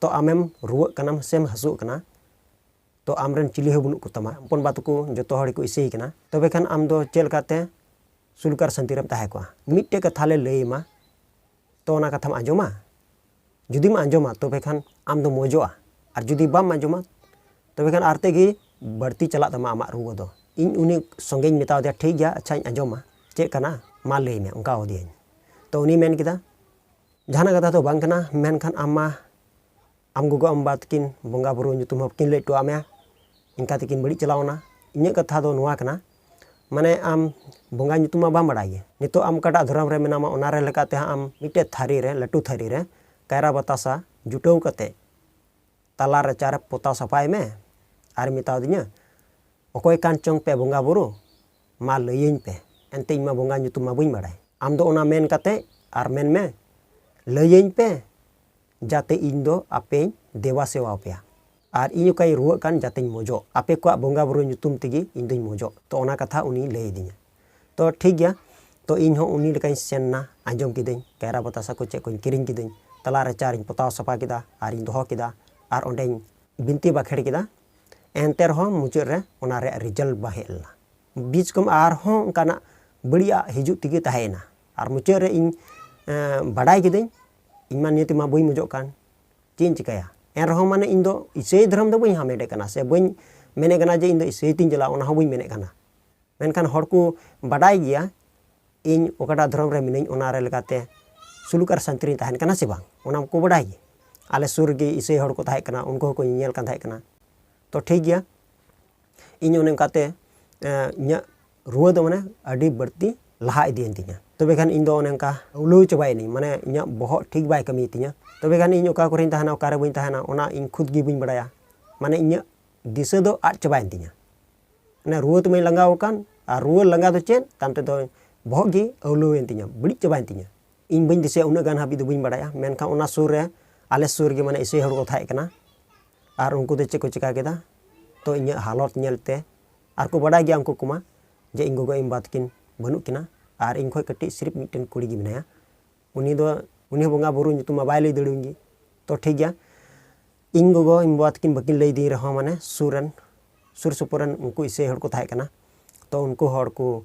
ᱛᱚ ᱟᱢᱮᱢ ᱨᱩᱣᱟᱹᱜ ᱠᱟᱱᱟᱢ ᱥᱮᱢ ᱦᱟᱹᱥᱩᱜ ᱠᱟᱱᱟ ᱛᱚ ᱟᱢ ᱨᱮᱱ ᱪᱤᱞᱤ ᱦᱚᱸ ᱵᱟᱹᱱᱩᱜ ᱠᱚ ᱛᱟᱢᱟ ᱦᱚᱯᱚᱱ ᱵᱟ ᱛᱟᱠᱚ ᱡᱚᱛᱚ ᱦᱚᱲ ᱜᱮᱠᱚ ᱤᱥᱟᱹᱭ ᱠᱟᱱᱟ ᱛᱚᱵᱮ ᱠᱷᱟᱱ ᱟᱢ ᱫᱚ ᱪᱮᱫ ᱞᱮᱠᱟᱛᱮ ᱥᱩᱞᱩᱠ ᱟᱨ ᱥᱟᱱᱛᱤ ᱨᱮᱢ ᱛᱟᱦᱮᱸ ᱠᱚᱜᱼᱟ ᱢᱤᱫᱴᱮᱡ ᱠᱟᱛᱷᱟ ᱞᱮ ᱞᱟᱹᱭ ᱟᱢᱟ ᱛᱚ ᱚᱱᱟ ᱠᱟᱛᱷᱟᱢ ᱟᱸᱡᱚᱢᱟ ᱡᱩᱫᱤᱢ ᱟᱸᱡᱚᱢᱟ ᱛᱚᱵᱮ ᱠᱷᱟᱱ ᱟᱢ ᱫᱚ ᱢᱚᱡᱚᱜᱼᱟ ᱟᱨ ᱡᱩᱫᱤ ᱵᱟᱢ ᱟᱸᱡᱚᱢᱟ ᱛᱚᱵᱮ ᱠᱷᱟᱱ ᱟᱨ ᱛᱮᱜᱮ ᱵᱟᱹᱲᱛᱤ ᱪᱟᱞᱟᱜ ᱛᱟᱢᱟ ᱟᱢᱟᱜ ᱨᱩᱣᱟᱹ ᱫᱚ ᱤᱧ ᱩᱱᱤ ᱥᱚᱸᱜᱮᱧ ᱢᱮᱛᱟᱣ ᱫᱮᱭᱟ ᱴᱷᱤᱠ ᱜᱮᱭᱟ ᱟᱪᱪᱷᱟᱧ ᱟᱸᱡᱚᱢᱟ ᱪᱮᱫ ᱠᱟᱱᱟ ᱢᱟ ᱞᱟᱹᱭ ᱢᱮ ᱚᱱᱠᱟ ᱟᱫᱮᱭᱟᱹᱧ ᱛᱚ ᱩᱱᱤ ᱢᱮᱱ ᱠᱮᱫᱟ ᱡᱟᱦᱟᱱᱟᱜ ᱠᱟᱛᱷᱟ ᱫᱚ ᱵᱟᱝ ᱠᱟᱱᱟ ᱢᱮᱱᱠᱷᱟᱱ ᱟᱢ ᱢᱟ ᱟᱢ ᱜᱚᱜᱚ ᱟᱢ ᱵᱟᱵᱟ ᱛᱟᱹᱠᱤᱱ ᱵᱚᱸᱜᱟ ᱵᱩᱨᱩ ᱧᱩᱛᱩᱢ ᱦᱚᱸ ᱵᱟᱹᱠᱤᱱ ᱞᱟᱹᱭ ᱦᱚᱴᱚᱣᱟᱜ ᱢᱮᱭᱟ ᱤᱱᱠᱟ ᱛᱮᱠᱤᱱ ᱵᱟᱹᱲᱤᱡ ᱪᱟᱞᱟᱣᱱᱟ ᱤᱧᱟᱹᱜ ᱠᱟᱛᱷᱟ ᱫᱚ ᱱᱚᱣᱟ ᱠᱟᱱᱟ ᱢᱟᱱᱮ ᱟᱢ ᱵᱚᱸᱜᱟ ᱧᱩᱛᱩᱢ ᱢᱟ ᱵᱟᱢ ᱵᱟᱲᱟᱭ ᱜᱮ ᱱᱤᱛᱚᱜ ᱟᱢ ᱚᱠᱟᱴᱟᱜ ᱫᱷᱚᱨᱚᱢ ᱨᱮ ᱢᱮᱱᱟᱢᱟ ᱚᱱᱟ ᱨᱮ ᱞᱮᱠᱟᱛᱮ ᱦᱟᱸᱜ ᱟᱢ ᱢᱤᱫᱴᱮᱡ ᱛᱷᱟᱹᱨᱤ ᱨᱮ ᱞᱟᱹᱴᱩ ᱛᱷᱟᱹᱨᱤ ᱨᱮ ᱠᱟᱭᱨᱟ ᱵᱟᱛᱟᱥᱟ ᱡᱩᱴᱟᱹᱣ ᱠᱟᱛᱮ ᱛᱟᱞᱟ ᱨᱮ ᱪᱟᱨᱮ ᱯᱚᱛᱟᱣ ᱥᱟᱯᱷᱟᱭ ᱢᱮ ᱟᱨ ᱢᱮᱛᱟᱣᱫᱤᱧᱟ ᱚᱠᱚᱭ ᱠᱟᱱ ᱪᱚᱝ ᱯᱮ ᱵᱚᱸᱜᱟ ᱵᱩᱨᱩ ᱢᱟ ᱞᱟᱹᱭᱟᱹᱧ ᱯᱮ ᱮᱱᱛᱮ ᱤᱧ ᱢᱟ ᱵᱚᱸᱜᱟ ᱧᱩᱛᱩᱢ ᱢᱟ ᱵᱟᱹᱧ ᱵᱟᱲᱟᱭ ᱟᱢ ᱫᱚ ᱚᱱᱟ ᱢᱮᱱ ᱠᱟᱛᱮ ᱟᱨ ᱢᱮᱱ ᱢᱮ ᱞᱟᱹᱭᱟᱹᱧ ᱯᱮ ᱡᱟᱛᱮ ᱤᱧ ᱫᱚ ᱟᱯᱮᱧ ᱫᱮᱵᱟ ᱥᱮᱣᱟ ᱟᱯᱮᱭᱟ ᱟᱨ ᱤᱧ ᱚᱠᱟᱭᱤᱧ ᱨᱩᱣᱟᱹᱜ ᱠᱟᱱ ᱡᱟᱛᱮᱧ ᱢᱚᱡᱚᱜ ᱟᱯᱮ ᱠᱚᱣᱟᱜ ᱵᱚᱸᱜᱟ ᱵᱩᱨᱩ ᱧᱩᱛᱩᱢ ᱛᱮᱜᱮ ᱤᱧ ᱫᱚᱧ ᱢᱚᱡᱚᱜ ᱛᱚ ᱚᱱᱟ ᱠᱟᱛᱷᱟ ᱩᱱᱤᱭ ᱞᱟᱹᱭ ᱟᱫᱤᱧᱟ ᱛᱚ ᱴᱷᱤᱠ ᱜᱮᱭᱟ ᱛᱚ ᱤᱧ ᱦᱚᱸ ᱩᱱᱤ ᱞᱮᱠᱟᱧ ᱥᱮᱱ ᱮᱱᱟ ᱟᱸᱡᱚᱢ ᱠᱤᱫᱟᱹᱧ ᱠᱟᱭᱨᱟ ᱵᱟᱛᱟᱥᱟ ᱠᱚ ᱪᱮᱫ ᱠᱚᱧ ᱠᱤᱨᱤᱧ ᱠᱤᱫᱟᱹᱧ ᱛᱟᱞᱟ ᱨᱮ ᱪᱟᱨᱤᱧ ᱯᱚᱛᱟᱣ ᱥᱟᱯᱷᱟ ᱠᱮᱫᱟ ᱟᱨᱤᱧ ᱫᱚᱦᱚ ᱠᱮᱫᱟ ᱟᱨ ᱚᱸᱰᱮᱧ ᱵᱤᱱᱛᱤ ᱵᱟᱠᱷᱮᱲ ᱠᱮᱫᱟ ᱮᱱᱛᱮ ᱨᱮᱦᱚᱸ ᱢᱩᱪᱟᱹᱫ ᱨᱮ ᱚᱱᱟ ᱨᱮᱭᱟᱜ ᱨᱤᱡᱟᱞᱴ ᱵᱟᱝ ᱦᱮᱡ ᱞᱮᱱᱟ ᱵᱤᱪ ᱠᱚᱢ ᱟᱨᱦᱚᱸ ᱚᱱᱠᱟᱱᱟᱜ ᱵᱟᱹᱲᱤᱡᱟᱜ ᱦᱤᱡᱩᱜ ᱛᱮᱜᱮ ᱛᱟᱦᱮᱸᱭᱮᱱᱟ ᱟᱨ ᱢᱩᱪᱟᱹᱫ ᱨᱮ ᱤᱧ ᱵᱟᱰᱟᱭ ᱠᱤᱫᱟᱹᱧ ᱤᱧ ᱢᱟ ᱱᱤᱭᱟᱹ ᱛᱮᱢᱟ ᱵᱟᱹᱧ ᱢᱚᱡᱚᱜ ᱠᱟᱱ ᱪᱮᱫ ᱤᱧ ᱪᱤᱠᱟᱹᱭᱟ ᱮᱱᱨᱮᱦᱚᱸ ᱢᱟᱱᱮ ᱤᱧ ᱫᱚ ᱤᱥᱟᱹᱭ ᱫᱷᱚᱨᱚᱢ ᱫᱚ ᱵᱟᱹᱧ ᱦᱟᱢᱮᱴᱮ ᱠᱟᱱᱟ ᱥᱮ ᱵᱟᱹᱧ ᱢᱮᱱᱮ ᱠᱟᱱᱟ ᱡᱮ ᱤᱧ ᱫᱚ ᱤᱥᱟᱹᱭ ᱛᱤᱧ ᱪᱟᱞᱟᱜᱼᱟ ᱚᱱᱟ ᱦᱚᱸ ᱵᱟᱹᱧ ᱢᱮᱱᱮ ᱠᱟᱱᱟ ᱢᱮᱱᱠᱷᱟᱱ ᱦᱚᱲ ᱠᱚ ᱵᱟᱰᱟᱭ ᱜᱮᱭᱟ ᱤᱧ ᱚᱠᱟᱴᱟᱜ ᱫᱷᱚᱨᱚᱢ ᱨᱮ ᱢᱤᱱᱟᱹᱧ ᱚᱱᱟ ᱨᱮ ᱞᱮᱠᱟᱛᱮ ᱥᱩᱞᱩᱠ ᱟᱨ ᱥᱟᱱᱛᱤ ᱨᱤᱧ ᱛᱟᱦᱮᱱ ᱠᱟᱱᱟ ᱥᱮ ᱵᱟᱝ ᱚᱱᱟ ᱠᱚ ᱵᱟᱰᱟᱭ ᱜᱮ ᱟᱞᱮ ᱥᱩᱨ ᱨᱮᱜᱮ ᱤᱥᱟᱹᱭ ᱦᱚᱲ ᱠᱚ ᱛᱟᱦᱮᱸ ᱠᱟᱱᱟ ᱩᱱᱠᱩ ᱦᱚᱸᱠᱚ ᱧᱮᱧᱮᱞ ᱠᱟᱱ ᱛᱟᱦᱮᱸ ᱠᱟᱱᱟ ᱛᱚ ᱴᱷᱤᱠ ᱜᱮᱭᱟ ᱤᱧ ᱚᱱᱮ ᱚᱱᱠᱟᱛᱮ ᱤᱧᱟᱹᱜ ᱨᱩᱣᱟᱹ ᱫᱚ ᱢᱟᱱᱮ ᱟᱹᱰᱤ ᱵᱟᱹᱲᱛᱤ ᱞᱟᱦᱟ ᱤᱫᱤᱭᱮᱱ ᱛᱤᱧᱟᱹ ᱛᱚᱵᱮ ᱠᱷᱟᱱ ᱤᱧ ᱫᱚ ᱚᱱᱮ ᱚᱱᱠᱟ ᱩᱞᱟᱹᱣ ᱪᱟᱵᱟᱭᱮᱱᱟᱹᱧ ᱢᱟᱱᱮ ᱤᱧᱟᱹᱜ ᱵᱚᱦᱚᱜ ᱴᱷᱤᱠ ᱵᱟᱭ ᱠᱟᱹᱢᱤᱭᱮᱫ ᱛᱤᱧᱟᱹ ᱛᱚᱵᱮ ᱠᱷᱟᱱ ᱤᱧ ᱚᱠᱟ ᱠᱚᱨᱮᱧ ᱛᱟᱦᱮᱱᱟ ᱚᱠᱟᱨᱮ ᱵᱟᱹᱧ ᱛᱟᱦᱮᱱᱟ ᱚᱱᱟ ᱤᱧ ᱠᱷᱩᱫ ᱜᱮ ᱵᱟᱹᱧ ᱵᱟᱲᱟᱭᱟ ᱢᱟᱱᱮ ᱤᱧᱟᱹᱜ ᱫᱤᱥᱟᱹ ᱫᱚ ᱟᱫ ᱪᱟᱵᱟᱭᱮᱱ ᱛᱤᱧᱟᱹ ᱢᱟᱱᱮ ᱨᱩᱣᱟᱹ ᱛᱮᱢᱟᱹᱧ ᱞᱟᱸᱜᱟᱣ ᱟᱠᱟᱱ ᱟᱨ ᱨᱩᱣᱟᱹ ᱞᱟᱸᱜᱟ ᱫᱚ ᱪᱮᱫ ᱛᱟᱭᱚᱢ ᱛᱮᱫᱚ ᱵᱚᱦᱚᱜ ᱜᱮ ᱟᱹᱣᱞᱟᱹᱣᱮᱱ ᱛᱤᱧᱟᱹ ᱵᱟᱹᱲᱤᱡ ᱪᱟᱵᱟᱭᱮᱱ ᱛᱤᱧᱟᱹ ᱤᱧ ᱵᱟᱹᱧ ᱫᱤᱥᱟᱹᱭᱟ ᱩᱱᱟᱹᱜ ᱜᱟᱱ ᱦᱟᱹᱵᱤᱡ ᱫᱚ ᱵᱟᱹᱧ ᱵᱟᱲᱟᱭᱟ ᱢᱮᱱᱠᱷᱟᱱ ᱚᱱᱟ ᱥᱩᱨ ᱨᱮ ᱟᱞᱮ ᱥᱩᱨ ᱨᱮᱜᱮ ᱢᱟᱱᱮ ᱤᱥᱟᱹᱭ ᱦᱚᱲ ᱠᱚ ᱛᱟᱦᱮᱸ ᱠᱟᱱᱟ ᱟᱨ ᱩᱱᱠᱩ ᱫᱚ ᱪᱮᱫ ᱠᱚ ᱪᱮᱠᱟ ᱠᱮᱫᱟ ᱛᱚ ᱤᱧᱟᱹᱜ ᱦᱟᱞᱚᱛ ᱧᱮᱞ ᱛᱮ ᱟᱨ ᱠᱚ ᱵᱟᱰᱟᱭ ᱜᱮᱭᱟ ᱩᱱᱠᱩ ᱠᱚᱢᱟ ᱡᱮ ᱤᱧ ᱜᱚᱜᱚ ᱤᱧ ᱵᱟᱵᱟ ᱛᱟᱹᱠᱤᱱ ᱵᱟᱹᱱᱩᱜ ᱠᱤᱱᱟ ᱟᱨ ᱤᱧ ᱠᱷᱚᱱ ᱠᱟᱹᱴᱤᱡ ᱥᱤᱨᱤᱯ ᱢᱤᱫᱴᱮᱱ ᱠᱩᱲᱤ ᱜᱮ ᱢᱮᱱᱟᱭᱟ ᱩᱱᱤ ᱫᱚ ᱩᱱᱤ ᱦᱚᱸ ᱵᱚᱸᱜᱟ ᱵᱩᱨᱩ ᱧᱩᱛᱩᱢ ᱢᱟ ᱵᱟᱭ ᱞᱟᱹᱭ ᱫᱟᱲᱮᱣᱟᱹᱧ ᱜᱮ ᱛᱚ ᱴᱷᱤᱠ ᱜᱮᱭᱟ ᱤᱧ ᱜᱚᱜᱚ ᱤᱧ ᱵᱟᱵᱟ ᱛᱟᱹᱠᱤᱱ ᱵᱟᱹᱠᱤᱱ ᱞᱟᱹᱭ ᱫᱤᱧ ᱨᱮᱦᱚᱸ ᱢᱟᱱᱮ ᱥᱩᱨ ᱨᱮᱱ ᱥᱩᱨ ᱥᱩᱯᱩᱨ ᱨᱮᱱ ᱩᱱᱠᱩ ᱤᱥᱟᱹᱭ ᱦᱚᱲ ᱠᱚ ᱛᱟᱦᱮᱸ ᱠᱟᱱᱟ ᱛᱚ ᱩᱱᱠᱩ ᱦᱚᱲ ᱠᱚ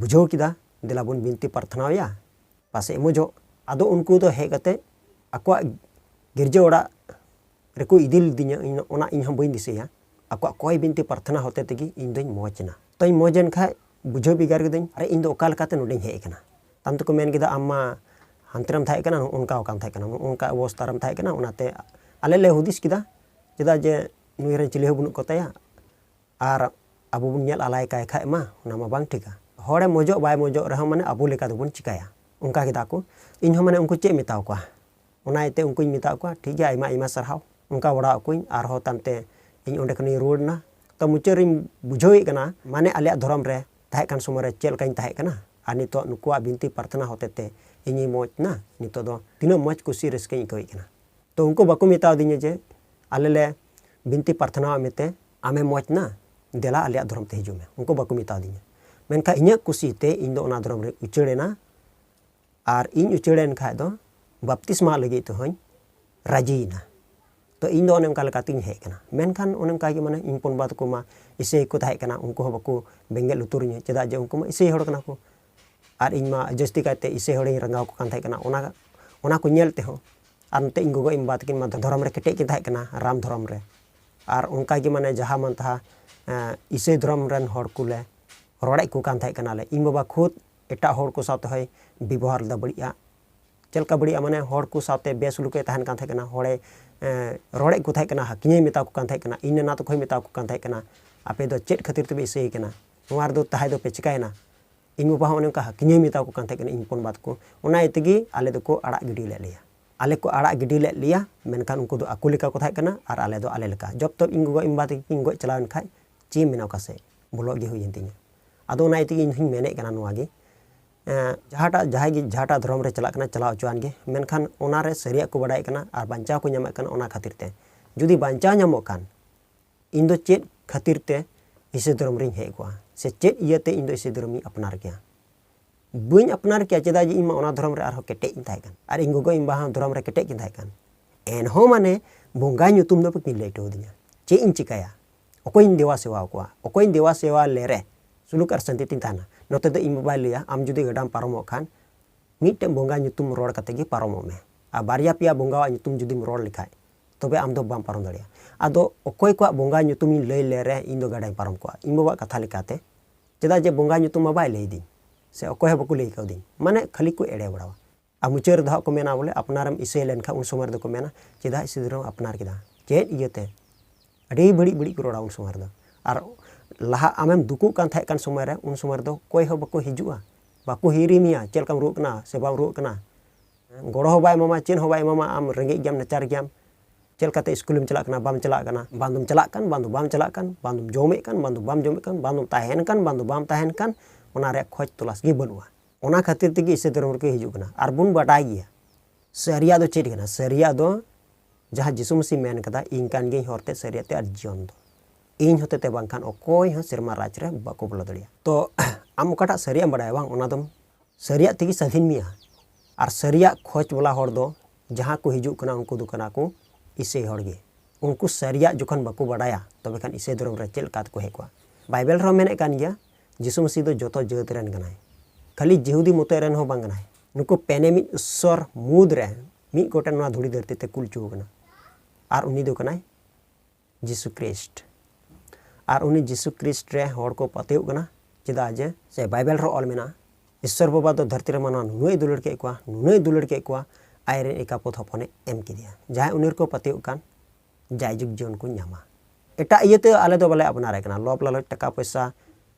ᱵᱩᱡᱷᱟᱹᱣ ᱠᱮᱫᱟ ᱫᱮᱞᱟ ᱵᱚᱱ ᱵᱤᱱᱛᱤ ᱯᱟᱨᱛᱷᱚᱱᱟᱣᱟᱭᱟ ᱯᱟᱥᱮᱡ ᱢᱚᱡᱚᱜ ᱟᱫᱚ ᱩᱱᱠᱩ ᱫᱚ ᱦᱮᱡ ᱠᱟᱛᱮ ᱟᱠᱚᱣᱟᱜ ᱜᱤᱨᱡᱟᱹ ᱚᱲᱟᱜ ᱨᱮᱠᱚ ᱤᱫᱤ ᱞᱤᱫᱤᱧᱟ ᱤᱧ ᱚᱱᱟ ᱤᱧ ᱦᱚᱸ ᱵᱟᱹᱧ ᱫᱤᱥᱟᱹᱭᱟ ᱟᱠᱚᱣᱟᱜ ᱠᱚᱭ ᱵᱤᱱᱛᱤ ᱯᱨᱟᱨᱛᱷᱚᱱᱟ ᱦᱚᱛᱮ ᱛᱮᱜᱮ ᱤᱧ ᱫᱚᱧ ᱢᱚᱡᱽ ᱮᱱᱟ ᱛᱚᱧ ᱢᱚᱡᱽ ᱮᱱ ᱠᱷᱟᱡ ᱵᱩᱡᱷᱟᱹᱣ ᱵᱷᱮᱜᱟᱨ ᱠᱤᱫᱟᱹᱧ ᱟᱨ ᱤᱧ ᱫᱚ ᱚᱠᱟ ᱞᱮᱠᱟᱛᱮ ᱱᱚᱰᱮᱧ ᱦᱮᱡ ᱟᱠᱟᱱᱟ ᱛᱟᱭᱚᱢ ᱛᱮᱠᱚ ᱢᱮᱱ ᱠᱮᱫᱟ ᱟᱢ ᱢᱟ ᱦᱟᱱᱛᱮ ᱨᱮᱢ ᱛᱟᱦᱮᱸ ᱠᱟᱱᱟ ᱚᱱᱠᱟ ᱟᱠᱟᱱ ᱛᱟᱦᱮᱸ ᱠᱟᱱᱟ ᱚᱱᱠᱟ ᱚᱵᱚᱥᱛᱟ ᱨᱮᱢ ᱛᱟᱦᱮᱸ ᱠᱟᱱᱟ ᱚᱱᱟᱛᱮ ᱟᱞᱮ ᱞᱮ ᱦᱩᱫᱤᱥ ᱠᱮᱫᱟ ᱪᱮᱫᱟᱜ ᱡᱮ ᱱᱩᱭ ᱨᱮᱱ ᱪᱤᱞᱤ ᱦᱚᱸ ᱵᱟᱹᱱᱩᱜ ᱠᱚᱛᱟᱭᱟ ᱟᱨ ᱟᱵᱚ ᱵᱚᱱ ᱧᱮᱞ ᱟᱞᱟᱭ ᱠᱟᱭ ᱠᱷᱟᱡ ᱢᱟ ᱚᱱᱟ ᱢᱟ ᱵᱟᱝ ᱴᱷᱤᱠᱟ ᱦᱚᱲᱮ ᱢᱚᱡᱚᱜ ᱵᱟᱭ ᱢᱚᱡᱚᱜ ᱨᱮᱦᱚᱸ ᱢᱟᱱᱮ ᱟᱵᱚ ᱞᱮᱠᱟ ᱫᱚᱵᱚᱱ ᱪᱤᱠᱟᱭᱟ ᱚᱱᱠᱟ ᱠᱮᱫᱟ ᱠᱚ ᱤᱧ ᱦᱚᱸ ᱢᱟᱱᱮ ᱩᱱᱠᱩ ᱪᱮᱫ ᱢᱮᱛᱟ ᱠᱚᱣᱟ ᱚᱱᱟ ᱤᱭᱟᱹᱛᱮ ᱩᱱᱠᱩᱧ ᱢᱮᱛᱟ ᱠᱚᱣᱟ ᱴᱷᱤᱠ ᱜᱮᱭᱟ ᱟᱭᱢᱟ ᱟᱭᱢᱟ ᱥᱟᱨᱦᱟᱣ ᱚᱱᱠᱟ ᱵᱟᱲᱟ ᱟᱠᱚᱣᱟᱹᱧ ᱟᱨᱦᱚᱸ ᱛᱟᱭᱚᱢᱛᱮ ᱤᱧ ᱚᱸᱰᱮ ᱠᱷᱚᱱᱤᱧ ᱨᱩᱣᱟᱹᱲ ᱮᱱᱟ ᱛᱚ ᱢᱩᱪᱟᱹᱫ ᱨᱤᱧ ᱵᱩᱡᱷᱟᱹᱣᱮᱫ ᱠᱟᱱᱟ ᱢᱟᱱᱮ ᱟᱞᱮᱭᱟᱜ ᱫᱷᱚᱨᱚᱢ ᱨᱮ ᱛᱟᱦᱮᱸ ᱠᱟᱱ ᱥᱚᱢᱚᱭ ᱨᱮ ᱪᱮᱫ ᱞᱮᱠᱟᱧ ᱛᱟᱦᱮᱸ ᱠᱟᱱᱟ ᱟᱨ ᱱᱤᱛᱚᱜ ᱱᱩᱠᱩᱣᱟᱜ ᱵᱤᱱᱛᱤ ᱯᱨᱟᱨᱛᱷᱚᱱᱟ ᱦᱚᱛᱮ ᱛᱮ ᱤᱧᱤᱧ ᱢᱚᱡᱽ ᱮᱱᱟ ᱱᱤᱛᱚᱜ ᱫᱚ ᱛᱤᱱᱟᱹᱜ ᱢᱚᱡᱽ ᱠᱩᱥᱤ ᱨᱟᱹᱥᱠᱟᱹᱧ ᱟᱹᱭᱠᱟᱹᱣᱮᱫ ᱠᱟᱱᱟ ᱛᱚ ᱩᱱᱠᱩ ᱵᱟᱠᱚ ᱢᱮᱛᱟᱣᱫᱤᱧᱟ ᱡᱮ ᱟᱞᱮ ᱞᱮ ᱵᱤᱱᱛᱤ ᱯᱨᱟᱨᱛᱷᱚᱱᱟᱣᱟᱜ ᱢᱮᱛᱮ ᱟᱢᱮᱢ ᱢᱚᱡᱽ ᱮᱱᱟ? ᱫᱮᱞᱟ ᱟᱞᱮᱭᱟᱜ ᱫᱷᱚᱨᱚᱢ ᱛᱮ ᱦᱤᱡᱩᱜ ᱢᱮ᱾ ᱩᱱᱠᱩ ᱵᱟᱠᱚ ᱢᱮᱛᱟ ᱟᱫᱤᱧᱟ᱾ ᱢᱮᱱᱠᱷᱟᱱ ᱤᱧᱟᱹᱜ ᱠᱩᱥᱤ ᱛᱮ ᱤᱧ ᱫᱚ ᱚᱱᱟ ᱫᱷᱚᱨᱚᱢ ᱨᱮᱧ ᱩᱪᱟᱹᱲ ᱮᱱᱟ ᱟᱨ ᱤᱧ ᱩᱪᱟᱹᱲ ᱮᱱ ᱠᱷᱟᱱ ᱫᱚ ᱵᱟᱯᱛᱤᱥᱢᱟᱜ ᱞᱟᱹᱜᱤᱫ ᱛᱮᱦᱚᱸᱧ ᱨᱟᱹᱡᱤ ᱮᱱᱟ᱾ ᱛᱚ ᱤᱧ ᱫᱚ ᱚᱱᱮ ᱚᱱᱠᱟ ᱞᱮᱠᱟ ᱛᱮᱜᱮᱧ ᱦᱮᱡ ᱟᱠᱟᱱᱟ᱾ ᱢᱮᱱᱠᱷᱟᱱ ᱚᱱᱮ ᱚᱱᱠᱟ ᱜᱮ ᱢᱟᱱᱮ ᱤᱧ ᱦᱚᱯᱚᱱ ᱵᱟ ᱛᱟᱠᱚ ᱢᱟ ᱤᱥᱟᱹᱭ ᱜᱮᱠᱚ ᱛᱟᱦᱮᱸ ᱠᱟᱱᱟ᱾ ᱩᱱᱠᱩ ᱦᱚᱸ ᱵᱟᱠᱚ ᱵᱮᱸᱜᱮᱫ ᱞᱩᱛᱩᱨ ᱤᱧᱟᱹ ᱪᱮᱫᱟᱜ ᱡᱮ ᱩᱱᱠᱩ ᱢᱟ ᱤᱥᱟᱹᱭ ᱦᱚᱲ ᱠᱟᱱᱟ ᱠᱚ᱾ ᱟᱨ ᱤᱧ ᱢᱟ ᱡᱟᱹᱥᱛᱤ ᱠᱟᱭᱛᱮ ᱤᱥᱟᱹᱭ ᱦᱚᱲᱤᱧ ᱨᱟᱸᱜᱟᱣ ᱠᱚ ᱠᱟᱱ ᱛᱟᱦᱮᱸ ᱠᱟᱱᱟ ᱚᱱᱟ ᱚᱱᱟ ᱠᱚ ᱧᱮᱞ ᱛᱮᱦᱚᱸ ᱟᱨ ᱱᱚᱛᱮ ᱤᱧ ᱜᱚᱜᱚ ᱤᱧ ᱵᱟᱵᱟ ᱛᱟᱹᱠᱤᱱ ᱢᱟ ᱫᱷᱚᱨᱚᱢ ᱨᱮ ᱠᱮᱴᱮᱡ ᱠᱤᱱ ᱛᱟᱦᱮᱸ ᱠᱟᱱᱟ ᱨᱟᱢ ᱫᱷᱚᱨᱚᱢ ᱨᱮ ᱟᱨ ᱚᱱᱠᱟ ᱜᱮ ᱢᱟᱱᱮ ᱡᱟᱦᱟᱸ ᱢᱟᱱ ᱛᱟᱦᱟᱸ ᱤᱥᱟᱹᱭ ᱫᱷᱚᱨᱚᱢ ᱨᱮᱱ ᱦᱚᱲ ᱠᱚᱞᱮ ᱨᱚᱲᱮᱫ ᱠᱚ ᱠᱟᱱ ᱛᱟᱦᱮᱸ ᱠᱟᱱᱟᱞᱮ ᱤᱧ ᱵᱟᱵᱟ ᱠᱷᱩᱫ ᱮᱴᱟᱜ ᱦᱚᱲ ᱠᱚ ᱥᱟᱶᱛᱮ ᱦᱚᱸᱭ ᱵᱮᱵᱚᱦᱟᱨ ᱞᱮᱫᱟ ᱵᱟᱹᱲᱤᱡᱟᱜ ᱪᱮᱫ ᱞᱮᱠᱟ ᱵᱟᱹᱲᱤᱡᱟᱜ ᱢᱟᱱᱮ ᱦᱚᱲ ᱠᱚ ᱥᱟᱶᱛᱮ ᱵᱮᱥᱩᱞᱩᱠᱮ ᱛᱟᱦᱮᱱ ᱠᱟᱱ ᱛᱟᱦᱮᱸ ᱠᱟᱱᱟ ᱦᱚᱲᱮ ᱨᱚᱲᱮᱫ ᱠᱚ ᱛᱟᱦᱮᱸ ᱠᱟᱱᱟ ᱦᱟᱹᱠᱤᱧᱮ ᱢᱮᱛᱟ ᱠᱚ ᱠᱟᱱ ᱛᱟᱦᱮᱸ ᱠᱟᱱᱟ ᱤᱧ ᱱᱟᱱᱟ ᱛᱟᱠᱚᱭ ᱢᱮᱛᱟ ᱠᱚ ᱠᱟᱱ ᱛᱟᱦᱮᱸ ᱠᱟᱱᱟ ᱟᱯᱮ ᱫᱚ ᱪᱮᱫ ᱠᱷᱟᱹᱛᱤᱨ ᱛᱮᱯᱮ ᱤᱥᱟᱹᱭᱮ ᱠᱟᱱᱟ ᱱᱚᱣᱟ ᱨᱮᱫᱚ ᱛᱟᱦᱮᱸ ᱫᱚᱯᱮ ᱪᱤᱠᱟᱹᱭᱮᱱᱟ ᱤᱧ ᱵᱟᱵᱟ ᱦᱚᱸ ᱚᱱᱮ ᱚᱱᱠᱟ ᱦᱟᱹᱠᱤᱧᱮ ᱢᱮᱛᱟ ᱠᱚ ᱠᱟᱱ ᱛᱟᱦᱮᱸ ᱠᱟᱱᱟ ᱤᱧ ᱦᱚᱯᱚᱱ ᱵᱟ ᱛᱟᱠᱚ ᱚᱱᱟ ᱤᱭᱟᱹ ᱛᱮᱜᱮ ᱟᱞᱮ ᱫᱚᱠᱚ ᱟᱲᱟᱜ ᱜᱤᱰᱤ ᱞᱮᱫ ᱞᱮᱭᱟ ᱟᱞᱮ ᱠᱚ ᱟᱲᱟᱜ ᱜᱤᱰᱤ ᱞᱮᱫ ᱞᱮᱭᱟ ᱢᱮᱱᱠᱷᱟᱱ ᱩᱱᱠᱩ ᱫᱚ ᱟᱠᱚ ᱞᱮᱠᱟ ᱠᱚ ᱛᱟᱦᱮᱸ ᱠᱟᱱᱟ ᱟᱨ ᱟᱞᱮ ᱫᱚ ᱟᱞᱮ ᱞᱮᱠᱟ ᱡᱚᱵ ᱛᱚᱵ ᱤᱧ ᱜᱚᱜᱚ ᱤᱧ ᱵᱟ ᱛᱟᱹᱠᱤᱱ ᱜᱚᱡ ᱪᱟᱞᱟᱣᱮᱱ ᱠᱷᱟᱡ ᱪᱮᱫ ᱮᱢ ᱢᱮᱱᱟ ᱚᱠᱟ ᱥᱮᱫ ᱵᱚᱞᱚᱜ ᱜᱮ ᱦᱩᱭᱮᱱ ᱛᱤᱧᱟ ᱟᱫᱚ ᱚᱱᱟ ᱤᱭᱟᱹ ᱛᱮᱜᱮ ᱤᱧ ᱦᱚᱧ ᱢᱮᱱᱮᱫ ᱠᱟᱱᱟ ᱱᱚᱣᱟ ᱜᱮ ᱡᱟᱦᱟᱸᱴᱟᱜ ᱡᱟᱦᱟᱸᱭ ᱜᱮ ᱡᱟᱦᱟᱸᱴᱟᱜ ᱫᱷᱚᱨᱚᱢ ᱨᱮ ᱪᱟᱞᱟᱜ ᱠᱟᱱᱟ ᱪᱟᱞᱟᱣ ᱦᱚᱪᱚᱣᱟᱱ ᱜᱮ ᱢᱮᱱᱠᱷᱟᱱ ᱚᱱᱟᱨᱮ ᱥᱟᱹᱨᱤᱭᱟᱜ ᱠᱚ ᱵᱟᱰᱟᱭ ᱠᱟᱱᱟ ᱟᱨ ᱵᱟᱧᱪᱟᱣ ᱠᱚ ᱧᱟᱢᱮᱫ ᱠᱟᱱᱟ ᱚᱱᱟ ᱠᱷᱟᱹᱛᱤᱨ ᱛᱮ ᱡᱩᱫᱤ ᱵᱟᱧᱪᱟᱣ ᱧᱟᱢᱚᱜ ᱠᱷᱟᱱ ᱤᱧ ᱫᱚ ᱪᱮᱫ ᱠᱷᱟᱹᱛᱤᱨ ᱛᱮ ᱤᱥᱟᱹ ᱫᱷᱚᱨᱚᱢ ᱨᱤᱧ ᱦᱮᱡ ᱠᱚᱜᱼᱟ ᱥᱮ ᱪᱮᱫ ᱤᱭᱟᱹᱛᱮ ᱤᱧ ᱫᱚ ᱤᱥᱟᱹ ᱫᱷᱚᱨᱚᱢ ᱤᱧ ᱟᱯᱱᱟᱨ ᱠᱮᱭᱟ ᱵᱟᱹᱧ ᱟᱯᱱᱟᱨ ᱠᱮᱭᱟ ᱪᱮᱫᱟᱜ ᱡᱮ ᱤᱧ ᱢᱟ ᱚᱱᱟ ᱫᱷᱚᱨᱚᱢ ᱨᱮ ᱟᱨᱦᱚᱸ ᱠᱮᱴᱮᱡ ᱤᱧ ᱛᱟᱦᱮᱸ ᱠᱟᱱ ᱟᱨ ᱤᱧ ᱜᱚᱜᱚ ᱤᱧ ᱵᱟ ᱦᱚᱸ ᱫᱷᱚᱨᱚᱢ ᱨᱮ ᱠᱮᱴᱮᱡ ᱠᱤᱱ ᱛᱟᱦᱮᱸ ᱠᱟᱱ ᱮᱱᱦᱚᱸ ᱢᱟᱱᱮ ᱵᱚᱸᱜᱟ ᱧᱩᱛᱩᱢ ᱫᱚ ᱵᱟᱹᱠᱤᱱ ᱞᱟᱹᱭ ᱦᱚᱴᱚ ᱟᱹᱫᱤᱧᱟ ᱪᱮᱫ ᱤᱧ ᱪᱤᱠᱟᱹᱭᱟ ᱚᱠᱚᱭᱤᱧ ᱫᱮᱣᱟ ᱥᱮᱣᱟ ᱠᱚᱣᱟ ᱚᱠᱚᱭᱤᱧ ᱫᱮᱣᱟ ᱥᱮᱣᱟ ᱞᱮᱨᱮ ᱥᱩᱞᱩᱠ ᱟᱨ ᱥᱟᱱᱛᱤ ᱛᱤᱧ ᱛᱟᱦᱮᱱᱟ ᱱᱚᱛᱮ ᱫᱚ ᱤᱧ ᱵᱟᱵᱟᱭ ᱞᱟᱹᱭᱟ ᱟᱢ ᱡᱩᱫᱤ ᱜᱟᱰᱟᱢ ᱯᱟᱨᱚᱢᱚᱜ ᱠᱷᱟᱱ ᱢᱤᱫᱴᱮᱱ ᱵᱚᱸᱜᱟ ᱧᱩᱛᱩᱢ ᱨᱚᱲ ᱠᱟᱛᱮ ᱜᱮ ᱯᱟᱨᱚᱢᱚᱜ ᱢᱮ ᱟᱨ ᱵᱟᱨᱭᱟ ᱯᱮᱭᱟ ᱵᱚᱸᱜᱟᱣᱟᱜ ᱧᱩᱛᱩᱢ ᱡᱩᱫᱤᱢ ᱨᱚᱲ ᱞᱮᱠᱷᱟᱡ ᱛᱚᱵᱮ ᱟᱢ ᱫᱚ ᱵᱟᱢ ᱯᱟᱨᱚᱢ ᱫᱟᱲᱮᱭᱟᱜᱼᱟ ᱟᱫᱚ ᱚᱠᱚᱭ ᱠᱚᱣᱟᱜ ᱵᱚᱸᱜᱟ ᱧᱩᱛᱩᱢ ᱤᱧ ᱞᱟᱹᱭ ᱞᱮ ᱨᱮ ᱤᱧ ᱫᱚ ᱜᱟᱰᱟᱧ ᱯᱟᱨᱚᱢ ᱠᱚᱜᱼᱟ ᱤᱧ ᱵᱟᱵᱟᱣᱟᱜ ᱠᱟᱛᱷᱟ ᱞᱮᱠᱟᱛᱮ ᱪᱮᱫᱟᱜ ᱡᱮ ᱵᱚᱸᱜᱟ ᱧᱩᱛᱩᱢ ᱢᱟ ᱵᱟᱭ ᱞᱟᱹᱭᱫᱤᱧ ᱥᱮ ᱚᱠᱚᱭ ᱦᱚᱸ ᱵᱟᱠᱚ ᱞᱟᱹᱭ ᱠᱟᱣᱫᱤᱧ ᱢᱟᱱᱮ ᱠᱷᱟᱹᱞᱤ ᱠᱚ ᱮᱲᱮ ᱵᱟᱲᱟᱣᱟ ᱟᱨ ᱢᱩᱪᱟᱹᱫ ᱨᱮᱫᱚ ᱦᱟᱸᱜ ᱠᱚ ᱢᱮᱱᱟ ᱵᱚᱞᱮ ᱟᱯᱱᱟᱨᱮᱢ ᱤᱥᱟᱹᱭ ᱞᱮᱱᱠᱷᱟᱱ ᱩᱱ ᱥᱚᱢᱚᱭ ᱨᱮᱫᱚ ᱠᱚ ᱢᱮᱱᱟ ᱪᱮᱫᱟᱜ ᱥᱤᱫᱩᱨᱟᱢ ᱟᱯᱱᱟᱨ ᱠᱮᱫᱟ ᱪᱮᱫ ᱤᱭᱟᱹᱛᱮ ᱟᱹᱰᱤ ᱵᱟᱹᱲᱤᱡ ᱵᱟᱹᱲᱤᱡ ᱠᱚ ᱨᱚᱲᱟ ᱩᱱ ᱥᱚᱢᱚᱭ ᱨᱮᱫᱚ ᱟᱨ ᱞᱟᱦᱟ ᱟᱢᱮᱢ ᱫᱩᱠᱩᱜ ᱠᱟᱱ ᱛᱟᱦᱮᱸ ᱠᱟᱱ ᱥᱚᱢᱚᱭ ᱨᱮ ᱩᱱ ᱥᱚᱢᱚᱭ ᱨᱮᱫᱚ ᱚᱠᱚᱭ ᱦᱚᱸ ᱵᱟᱠᱚ ᱦᱤᱡᱩᱜᱼᱟ ᱵᱟᱠᱚ ᱦᱤᱨᱤ ᱢᱮᱭᱟ ᱪᱮᱫ ᱞᱮᱠᱟᱢ ᱨᱩᱣᱟᱹᱜ ᱠᱟᱱᱟ ᱥᱮ ᱵᱟᱢ ᱨᱩᱣᱟᱹᱜ ᱠᱟᱱᱟ ᱜᱚᱲᱚ ᱦᱚᱸ ᱵᱟᱭ ᱮᱢᱟᱢᱟ ᱪᱮᱫ ᱦᱚᱸ ᱵᱟᱭ ᱮᱢᱟᱢᱟ ᱟᱢ ᱨᱮᱸᱜᱮᱡ ᱜᱮᱭᱟᱢ ᱱᱟᱪᱟᱨ ᱜᱮᱭᱟᱢ ᱪᱮᱫ ᱞᱮᱠᱟᱛᱮ ᱥᱠᱩᱞᱮᱢ ᱪᱟᱞᱟᱜ ᱠᱟᱱᱟ ᱵᱟᱢ ᱪᱟᱞᱟᱜ ᱠᱟᱱᱟ ᱵᱟᱝ ᱫᱚᱢ ᱪᱟᱞᱟᱜ ᱠᱟᱱ ᱵᱟᱝ ᱫᱚ ᱵᱟᱢ ᱪᱟᱞᱟᱜ ᱠᱟᱱ ᱵᱟᱝ ᱫᱚᱢ ᱡᱚᱢᱮᱫ ᱠᱟᱱ ᱵᱟᱝ ᱫᱚ ᱵᱟᱢ ᱡᱚᱢᱮᱫ ᱠᱟᱱ ᱵᱟᱝ ᱫᱚᱢ ᱛᱟᱦᱮᱱ ᱠᱟᱱ ᱵᱟᱝ ᱫᱚ ᱵᱟᱢ ᱛᱟᱦᱮᱱ ᱠᱟᱱ ᱚᱱᱟ ᱨᱮᱭᱟᱜ ᱠᱷᱚᱡᱽ ᱛᱚᱞᱟᱥ ᱜᱮ ᱵᱟᱹᱱᱩᱜᱼᱟ ᱚᱱᱟ ᱠᱷᱟᱹᱛᱤᱨ ᱛᱮᱜᱮ ᱤᱥᱟᱹ ᱫᱷᱚᱨᱚᱢ ᱨᱮᱠᱚ ᱦᱤᱡᱩᱜ ᱠᱟᱱᱟ ᱟᱨ ᱵᱚᱱ ᱵᱟᱰᱟᱭ ᱜᱮᱭᱟ ᱥᱟᱹᱨᱤᱭᱟᱜ ᱫᱚ ᱪᱮᱫ ᱠᱟᱱᱟ ᱥᱟᱹᱨᱤᱭᱟᱜ ᱫᱚ ᱡᱟᱦᱟᱸ ᱡᱤᱥᱩ ᱢᱟᱹᱥᱤ ᱢᱮᱱ ᱠᱟᱫᱟ ᱤᱧ ᱠᱟᱱ ᱜᱤᱭᱟᱹᱧ ᱦᱚᱨᱛᱮ ᱥᱟᱹᱨᱤᱭᱟᱜ ᱛᱮ ᱟᱨ ᱡᱤᱭᱚᱱ ᱫᱚ ᱤᱧ ᱦᱚᱛᱮ ᱛᱮ ᱵᱟᱝᱠᱷᱟᱱ ᱚᱠᱚᱭ ᱦᱚᱸ ᱥᱮᱨᱢᱟ ᱨᱟᱡᱽ ᱨᱮ ᱵᱟᱠᱚ ᱵᱚᱞᱚ ᱫᱟᱲᱮᱭᱟᱜᱼᱟ ᱛᱚ ᱟᱢ ᱚᱠᱟᱴᱟᱜ ᱥᱟᱹᱨᱤᱭᱟᱜ ᱮᱢ ᱵᱟᱰᱟᱭᱟ ᱵᱟᱝ ᱚᱱᱟ ᱫᱚᱢ ᱥᱟᱹᱨᱤᱭᱟᱜ ᱛᱮᱜᱮ ᱥᱟᱹᱫᱷᱤᱱ ᱢᱮᱭᱟ ᱟᱨ ᱥᱟᱹᱨᱤᱭᱟᱜ ᱠᱷᱚᱡᱽ ᱵᱟᱞᱟ ᱦᱚᱲ ᱫᱚ ᱡᱟᱦᱟᱸ ᱠᱚ ᱦᱤᱡᱩᱜ ᱠᱟᱱᱟ ᱩᱱᱠᱩ ᱫᱚ ᱠᱟᱱᱟ ᱠᱚ ᱤᱥᱟᱹᱭ ᱦᱚᱲ ᱜᱮ ᱩᱱᱠᱩ ᱥᱟᱹᱨᱤᱭᱟᱜ ᱡᱚᱠᱷᱚᱱ ᱵᱟᱠᱚ ᱵᱟᱰᱟᱭᱟ ᱛᱚᱵᱮ ᱠᱷᱟᱱ ᱤᱥᱟᱹᱭ ᱫᱷᱚᱨᱚᱢ ᱨᱮ ᱪᱮᱫ ᱞᱮᱠᱟ ᱛᱮᱠᱚ ᱦᱮᱡ ᱠᱚᱜᱼᱟ ᱵᱟᱭᱵᱮᱞ ᱨᱮᱦᱚᱸ ᱢᱮᱱᱮᱫ ᱠᱟᱱ ᱜᱮᱭᱟ ᱡᱤᱥᱩ ᱢᱟᱹᱥᱤ ᱫᱚ ᱡᱚᱛᱚ ᱡᱟᱹᱛ ᱨᱮᱱ ᱠᱟᱱᱟᱭ ᱠᱷᱟᱹᱞᱤ ᱡᱤᱦᱩᱫᱤ ᱢᱚᱛᱚᱡ ᱨᱮᱱ ᱦᱚᱸ ᱵᱟᱝ ᱠᱟᱱᱟᱭ ᱱᱩᱠᱩ ᱯᱮᱱᱮ ᱢᱤᱫ ᱤᱥᱥᱚᱨ ᱢᱩᱫᱽ ᱨᱮ ᱢᱤᱫ ᱜᱚᱴᱮᱱ ᱱᱚᱣᱟ ᱫᱷᱩᱲᱤ ᱫᱷᱟᱹᱨᱛᱤ ᱛᱮ ᱠᱩᱞ ᱪᱩᱣ ᱠᱟᱱᱟ ᱟᱨ ᱩᱱᱤ ᱫᱚ ᱠᱟᱱᱟᱭ ᱡᱤᱥᱩ ᱠᱨᱤᱥᱴ ᱟᱨ ᱩᱱᱤ ᱡᱤᱥᱩ ᱠᱨᱤᱥᱴ ᱨᱮ ᱦᱚᱲ ᱠᱚ ᱯᱟᱹᱛᱭᱟᱹᱜ ᱠᱟᱱᱟ ᱪᱮᱫᱟᱜ ᱡᱮ ᱥᱮ ᱵᱟᱭᱵᱮᱞ ᱨᱮ ᱚᱞ ᱢᱮᱱᱟᱜᱼᱟ ᱤᱥᱥᱚᱨ ᱵᱟᱵᱟ ᱫᱚ ᱫᱷᱟᱹᱨᱛᱤ ᱨᱮ ᱢᱟᱱᱣᱟ ᱱᱩᱱᱟᱹᱜ ᱫᱩᱞᱟᱹᱲ ᱠᱮᱫ ᱠᱚᱣᱟ ᱱᱩᱱᱟᱹᱜ ᱫᱩᱞᱟᱹᱲ ᱠᱮᱫ ᱠᱚᱣᱟ ᱟᱡᱨᱮᱱ ᱮᱠᱟᱯᱚᱛ ᱦᱚᱯᱚᱱᱮ ᱮᱢ ᱠᱮᱫᱮᱭᱟ ᱡᱟᱦᱟᱸᱭ ᱩᱱᱤ ᱨᱮᱠᱚ ᱯᱟᱹᱛᱭᱟᱹᱜ ᱠᱟᱱ ᱡᱟᱭᱡᱩᱜᱽ ᱡᱤᱭᱚᱱ ᱠᱚ ᱧᱟᱢᱟ ᱮᱴᱟᱜ ᱤᱭᱟᱹᱛᱮ ᱟᱞᱮ ᱫᱚ ᱵᱟᱞᱮ ᱟᱯᱱᱟᱨᱮ ᱠᱟᱱᱟ ᱞᱚᱵ ᱞᱟᱞᱚᱪ ᱴᱟᱠᱟ ᱯᱚᱭᱥᱟ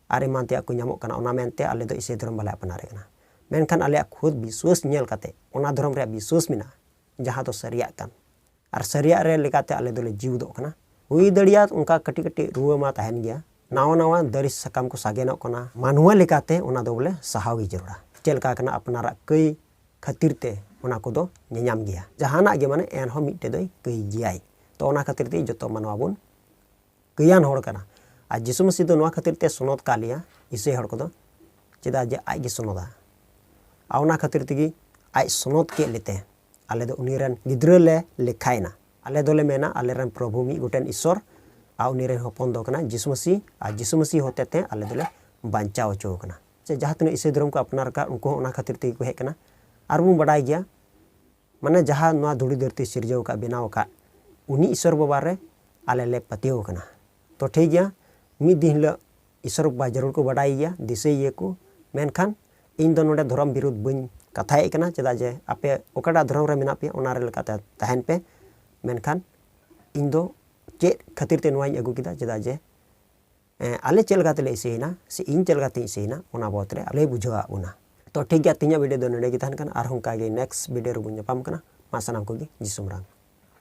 ᱟᱨ ᱮᱢᱟᱱ ᱛᱮᱭᱟᱜ ᱠᱚ ᱧᱟᱢᱚᱜ ᱠᱟᱱᱟ ᱚᱱᱟ ᱢᱮᱱᱛᱮ ᱟᱞᱮ ᱫᱚ ᱤᱥᱟᱹᱭ ᱫᱷᱚᱨᱚᱢ ᱵᱟᱞᱮ ᱟᱯᱱᱟᱨᱮ ᱠᱟᱱᱟ ᱢᱮᱱᱠᱷᱟᱱ ᱟᱞᱮᱭᱟᱜ ᱠᱷᱩᱫ ᱵᱤᱥᱣᱟᱹᱥ ᱧᱮᱞ ᱠᱟᱛᱮ ᱚᱱᱟ ᱫᱷᱚᱨᱚᱢ ᱨᱮᱭᱟᱜ ᱵᱤᱥᱣᱟᱹᱥ ᱢᱮᱱᱟᱜᱼᱟ ᱡᱟᱦᱟᱸ ᱫᱚ ᱥᱟᱹᱨᱤᱭᱟᱜ ᱠᱟᱱ ᱟᱨ ᱥᱟᱹᱨᱤᱭᱟᱜ ᱨᱮ ᱞᱮᱠᱟᱛᱮ ᱟᱞᱮ ᱫᱚᱞᱮ ᱡᱤᱣᱤᱫᱚᱜ ᱠᱟᱱᱟ᱾ ᱦᱩᱭ ᱫᱟᱲᱮᱭᱟᱫ ᱚᱱᱠᱟ ᱠᱟᱹᱴᱤᱡ ᱠᱟᱹᱴᱤᱡ ᱨᱩᱣᱟᱹ ᱢᱟ ᱛᱟᱦᱮᱱ ᱜᱮᱭᱟ᱾ ᱱᱟᱣᱟ ᱱᱟᱣᱟ ᱫᱟᱨᱮ ᱥᱟᱠᱟᱢ ᱠᱚ ᱥᱟᱜᱮᱱᱚᱜ ᱠᱟᱱᱟ᱾ ᱢᱟᱱᱣᱟ ᱞᱮᱠᱟᱛᱮ ᱚᱱᱟ ᱫᱚ ᱵᱚᱞᱮ ᱥᱟᱦᱟᱣ ᱜᱮ ᱡᱟᱹᱨᱩᱲᱟ᱾ ᱪᱮᱫ ᱞᱮᱠᱟ ᱠᱟᱱᱟ ᱟᱯᱱᱟᱨᱟᱜ ᱠᱟᱹᱭ ᱠᱷᱟᱹᱛᱤᱨ ᱛᱮ ᱚᱱᱟ ᱠᱚᱫᱚ ᱧᱮᱧᱟᱢ ᱜᱮᱭᱟ᱾ ᱡᱟᱦᱟᱱᱟᱜ ᱜᱮ ᱢᱟᱱᱮ ᱮᱱᱦᱚᱸ ᱢᱤᱫᱴᱮᱡ ᱫᱚᱭ ᱠᱟᱹᱭ ᱜᱮᱭᱟᱭ᱾ ᱛᱚ ᱚᱱᱟ ᱠᱷᱟᱹᱛᱤᱨ ᱛᱮᱜᱮ ᱡᱚᱛᱚ ᱢᱟᱱᱣᱟ ᱵᱚᱱ ᱠᱟᱹᱭᱟᱱ ᱦᱚᱲ ᱠᱟᱱᱟ᱾ ᱟᱨ ᱡᱤᱥᱩ ᱢᱟᱹᱥᱤ ᱫᱚ ᱱᱚᱣᱟ ᱠᱷᱟᱹᱛᱤᱨ ᱛᱮ ᱥᱚᱱᱚᱛ ᱠᱟᱜ ᱞᱮᱭᱟ ᱤᱥᱟᱹᱭ ᱦᱚᱲ ᱠᱚᱫᱚ᱾ ᱪᱮᱫᱟᱜ ᱡᱮ ᱟᱡ ᱜᱮ ᱥᱚᱱᱚᱛᱟ᱾ ᱟᱨ ᱚᱱᱟ ᱠᱷᱟᱹᱛᱤᱨ ᱛᱮᱜᱮ ᱟᱡ ᱥᱚᱱᱚᱛ ᱠᱮᱫ ᱞᱮᱛᱮ᱾ ᱟᱞᱮ ᱫᱚ ᱩᱱᱤ ᱨᱮᱱ ᱜᱤᱫᱽᱨᱟᱹ ᱞᱮ ᱞᱮᱠᱷᱟᱭᱮᱱᱟ ᱟᱞᱮ ᱫᱚᱞᱮ ᱢᱮᱱᱟ ᱟᱞᱮ ᱨᱮᱱ ᱯᱨᱚᱵᱷᱩ ᱢᱤᱫ ᱜᱚᱴᱮᱱ ᱤᱥᱥᱚᱨ ᱟᱨ ᱩᱱᱤ ᱨᱮᱱ ᱦᱚᱯᱚᱱ ᱫᱚ ᱠᱟᱱᱟ ᱡᱤᱥᱩ ᱢᱟᱹᱥᱤ ᱟᱨ ᱡᱤᱥᱩ ᱢᱟᱹᱥᱤ ᱦᱚᱛᱮ ᱛᱮ ᱟᱞᱮ ᱫᱚᱞᱮ ᱵᱟᱧᱪᱟᱣ ᱦᱚᱪᱚ ᱟᱠᱟᱱᱟ ᱥᱮ ᱡᱟᱦᱟᱸ ᱛᱤᱱᱟᱹᱜ ᱤᱥᱟᱹᱭ ᱫᱷᱚᱨᱚᱢ ᱠᱚ ᱟᱯᱱᱟᱨ ᱟᱠᱟᱫ ᱩᱱᱠᱩ ᱦᱚᱸ ᱚᱱᱟ ᱠᱷᱟᱹᱛᱤᱨ ᱛᱮᱜᱮ ᱠᱚ ᱦᱮᱡ ᱠᱟᱱᱟ ᱟᱨ ᱵᱚᱱ ᱵᱟᱰᱟᱭ ᱜᱮᱭᱟ ᱢᱟᱱᱮ ᱡᱟᱦᱟᱸ ᱱᱚᱣᱟ ᱫᱷᱩᱲᱤ ᱫᱷᱟᱹᱨᱛᱤ ᱥᱤᱨᱡᱟᱹᱣ ᱟᱠᱟᱫ ᱵᱮᱱᱟᱣ ᱟᱠᱟᱫ ᱩᱱᱤ ᱤᱥᱥᱚᱨ ᱵᱟᱵᱟ ᱨᱮ ᱟᱞᱮ ᱞᱮ ᱯᱟᱹᱛᱭᱟᱹᱣ ᱟᱠᱟᱱᱟ ᱛᱚ ᱴᱷᱤᱠ ᱜᱮᱭᱟ ᱢᱤᱫ ᱫᱤᱱ ᱦᱤᱞᱳᱜ ᱤᱥᱚᱨ ᱵᱟᱵᱟ ᱡᱟᱹᱨᱩᱲ ᱠᱚ ᱵᱟᱰᱟᱭ ᱜᱮᱭᱟ ᱫᱤᱥᱟᱹᱭ ᱜᱮᱭᱟ ᱠᱚ ᱢᱮᱱᱠᱷᱟᱱ ᱤᱧ ᱫᱚ ᱱᱚᱰᱮ ᱫᱷᱚᱨᱚᱢ ᱵᱤᱨᱩᱫᱽ ᱵᱟᱹᱧ ᱠᱟᱛᱷᱟᱭᱮᱫ ᱠᱟᱱᱟ ᱪᱮᱫᱟᱜ ᱡᱮ ᱟᱯᱮ ᱚᱠᱟᱴᱟᱜ ᱫᱷᱚᱨᱚᱢ ᱨᱮ ᱢᱮᱱᱟᱜ ᱯᱮᱭᱟ ᱚᱱᱟ ᱨᱮ ᱞᱮᱠᱟᱛᱮ ᱛᱟᱦᱮᱱ ᱯᱮ ᱢᱮᱱᱠᱷᱟᱱ ᱤᱧ ᱫᱚ ᱪᱮᱫ ᱠᱷᱟᱹᱛᱤᱨ ᱛᱮ ᱱᱚᱣᱟᱧ ᱟᱹᱜᱩ ᱠᱮᱫᱟ ᱪᱮᱫᱟᱜ ᱡᱮ ᱟᱞᱮ ᱪᱮᱫ ᱞᱮᱠᱟ ᱛᱮᱞᱮ ᱤᱥᱤᱱᱟ ᱥᱮ ᱤᱧ ᱪᱮᱫ ᱞᱮᱠᱟ ᱛᱤᱧ ᱤᱥᱤᱱᱟ ᱚᱱᱟ ᱵᱟᱵᱚᱛ ᱨᱮ ᱟᱞᱮ ᱵᱩᱡᱷᱟᱹᱣᱟᱜ ᱵᱚᱱᱟ ᱛᱚ ᱴᱷᱤᱠ ᱜᱮᱭᱟ ᱛᱤᱦᱤᱧᱟᱜ ᱵᱷᱤᱰᱤᱭᱳ ᱫᱚ ᱱᱚᱰᱮ ᱜᱮ ᱛᱟᱦᱮᱱ ᱠᱟᱱᱟ ᱟᱨᱦᱚᱸ ᱚᱱᱠᱟ ᱜᱮ ᱱᱮᱠᱥᱴ ᱵᱷᱤᱰᱤᱭᱳ ᱨᱮᱵᱚᱱ ᱧᱟᱯᱟᱢ ᱠᱟᱱᱟ ᱢᱟ ᱥᱟᱱᱟᱢ ᱠᱚᱜᱮ ᱡᱤᱥᱩᱢ ᱨᱟᱢ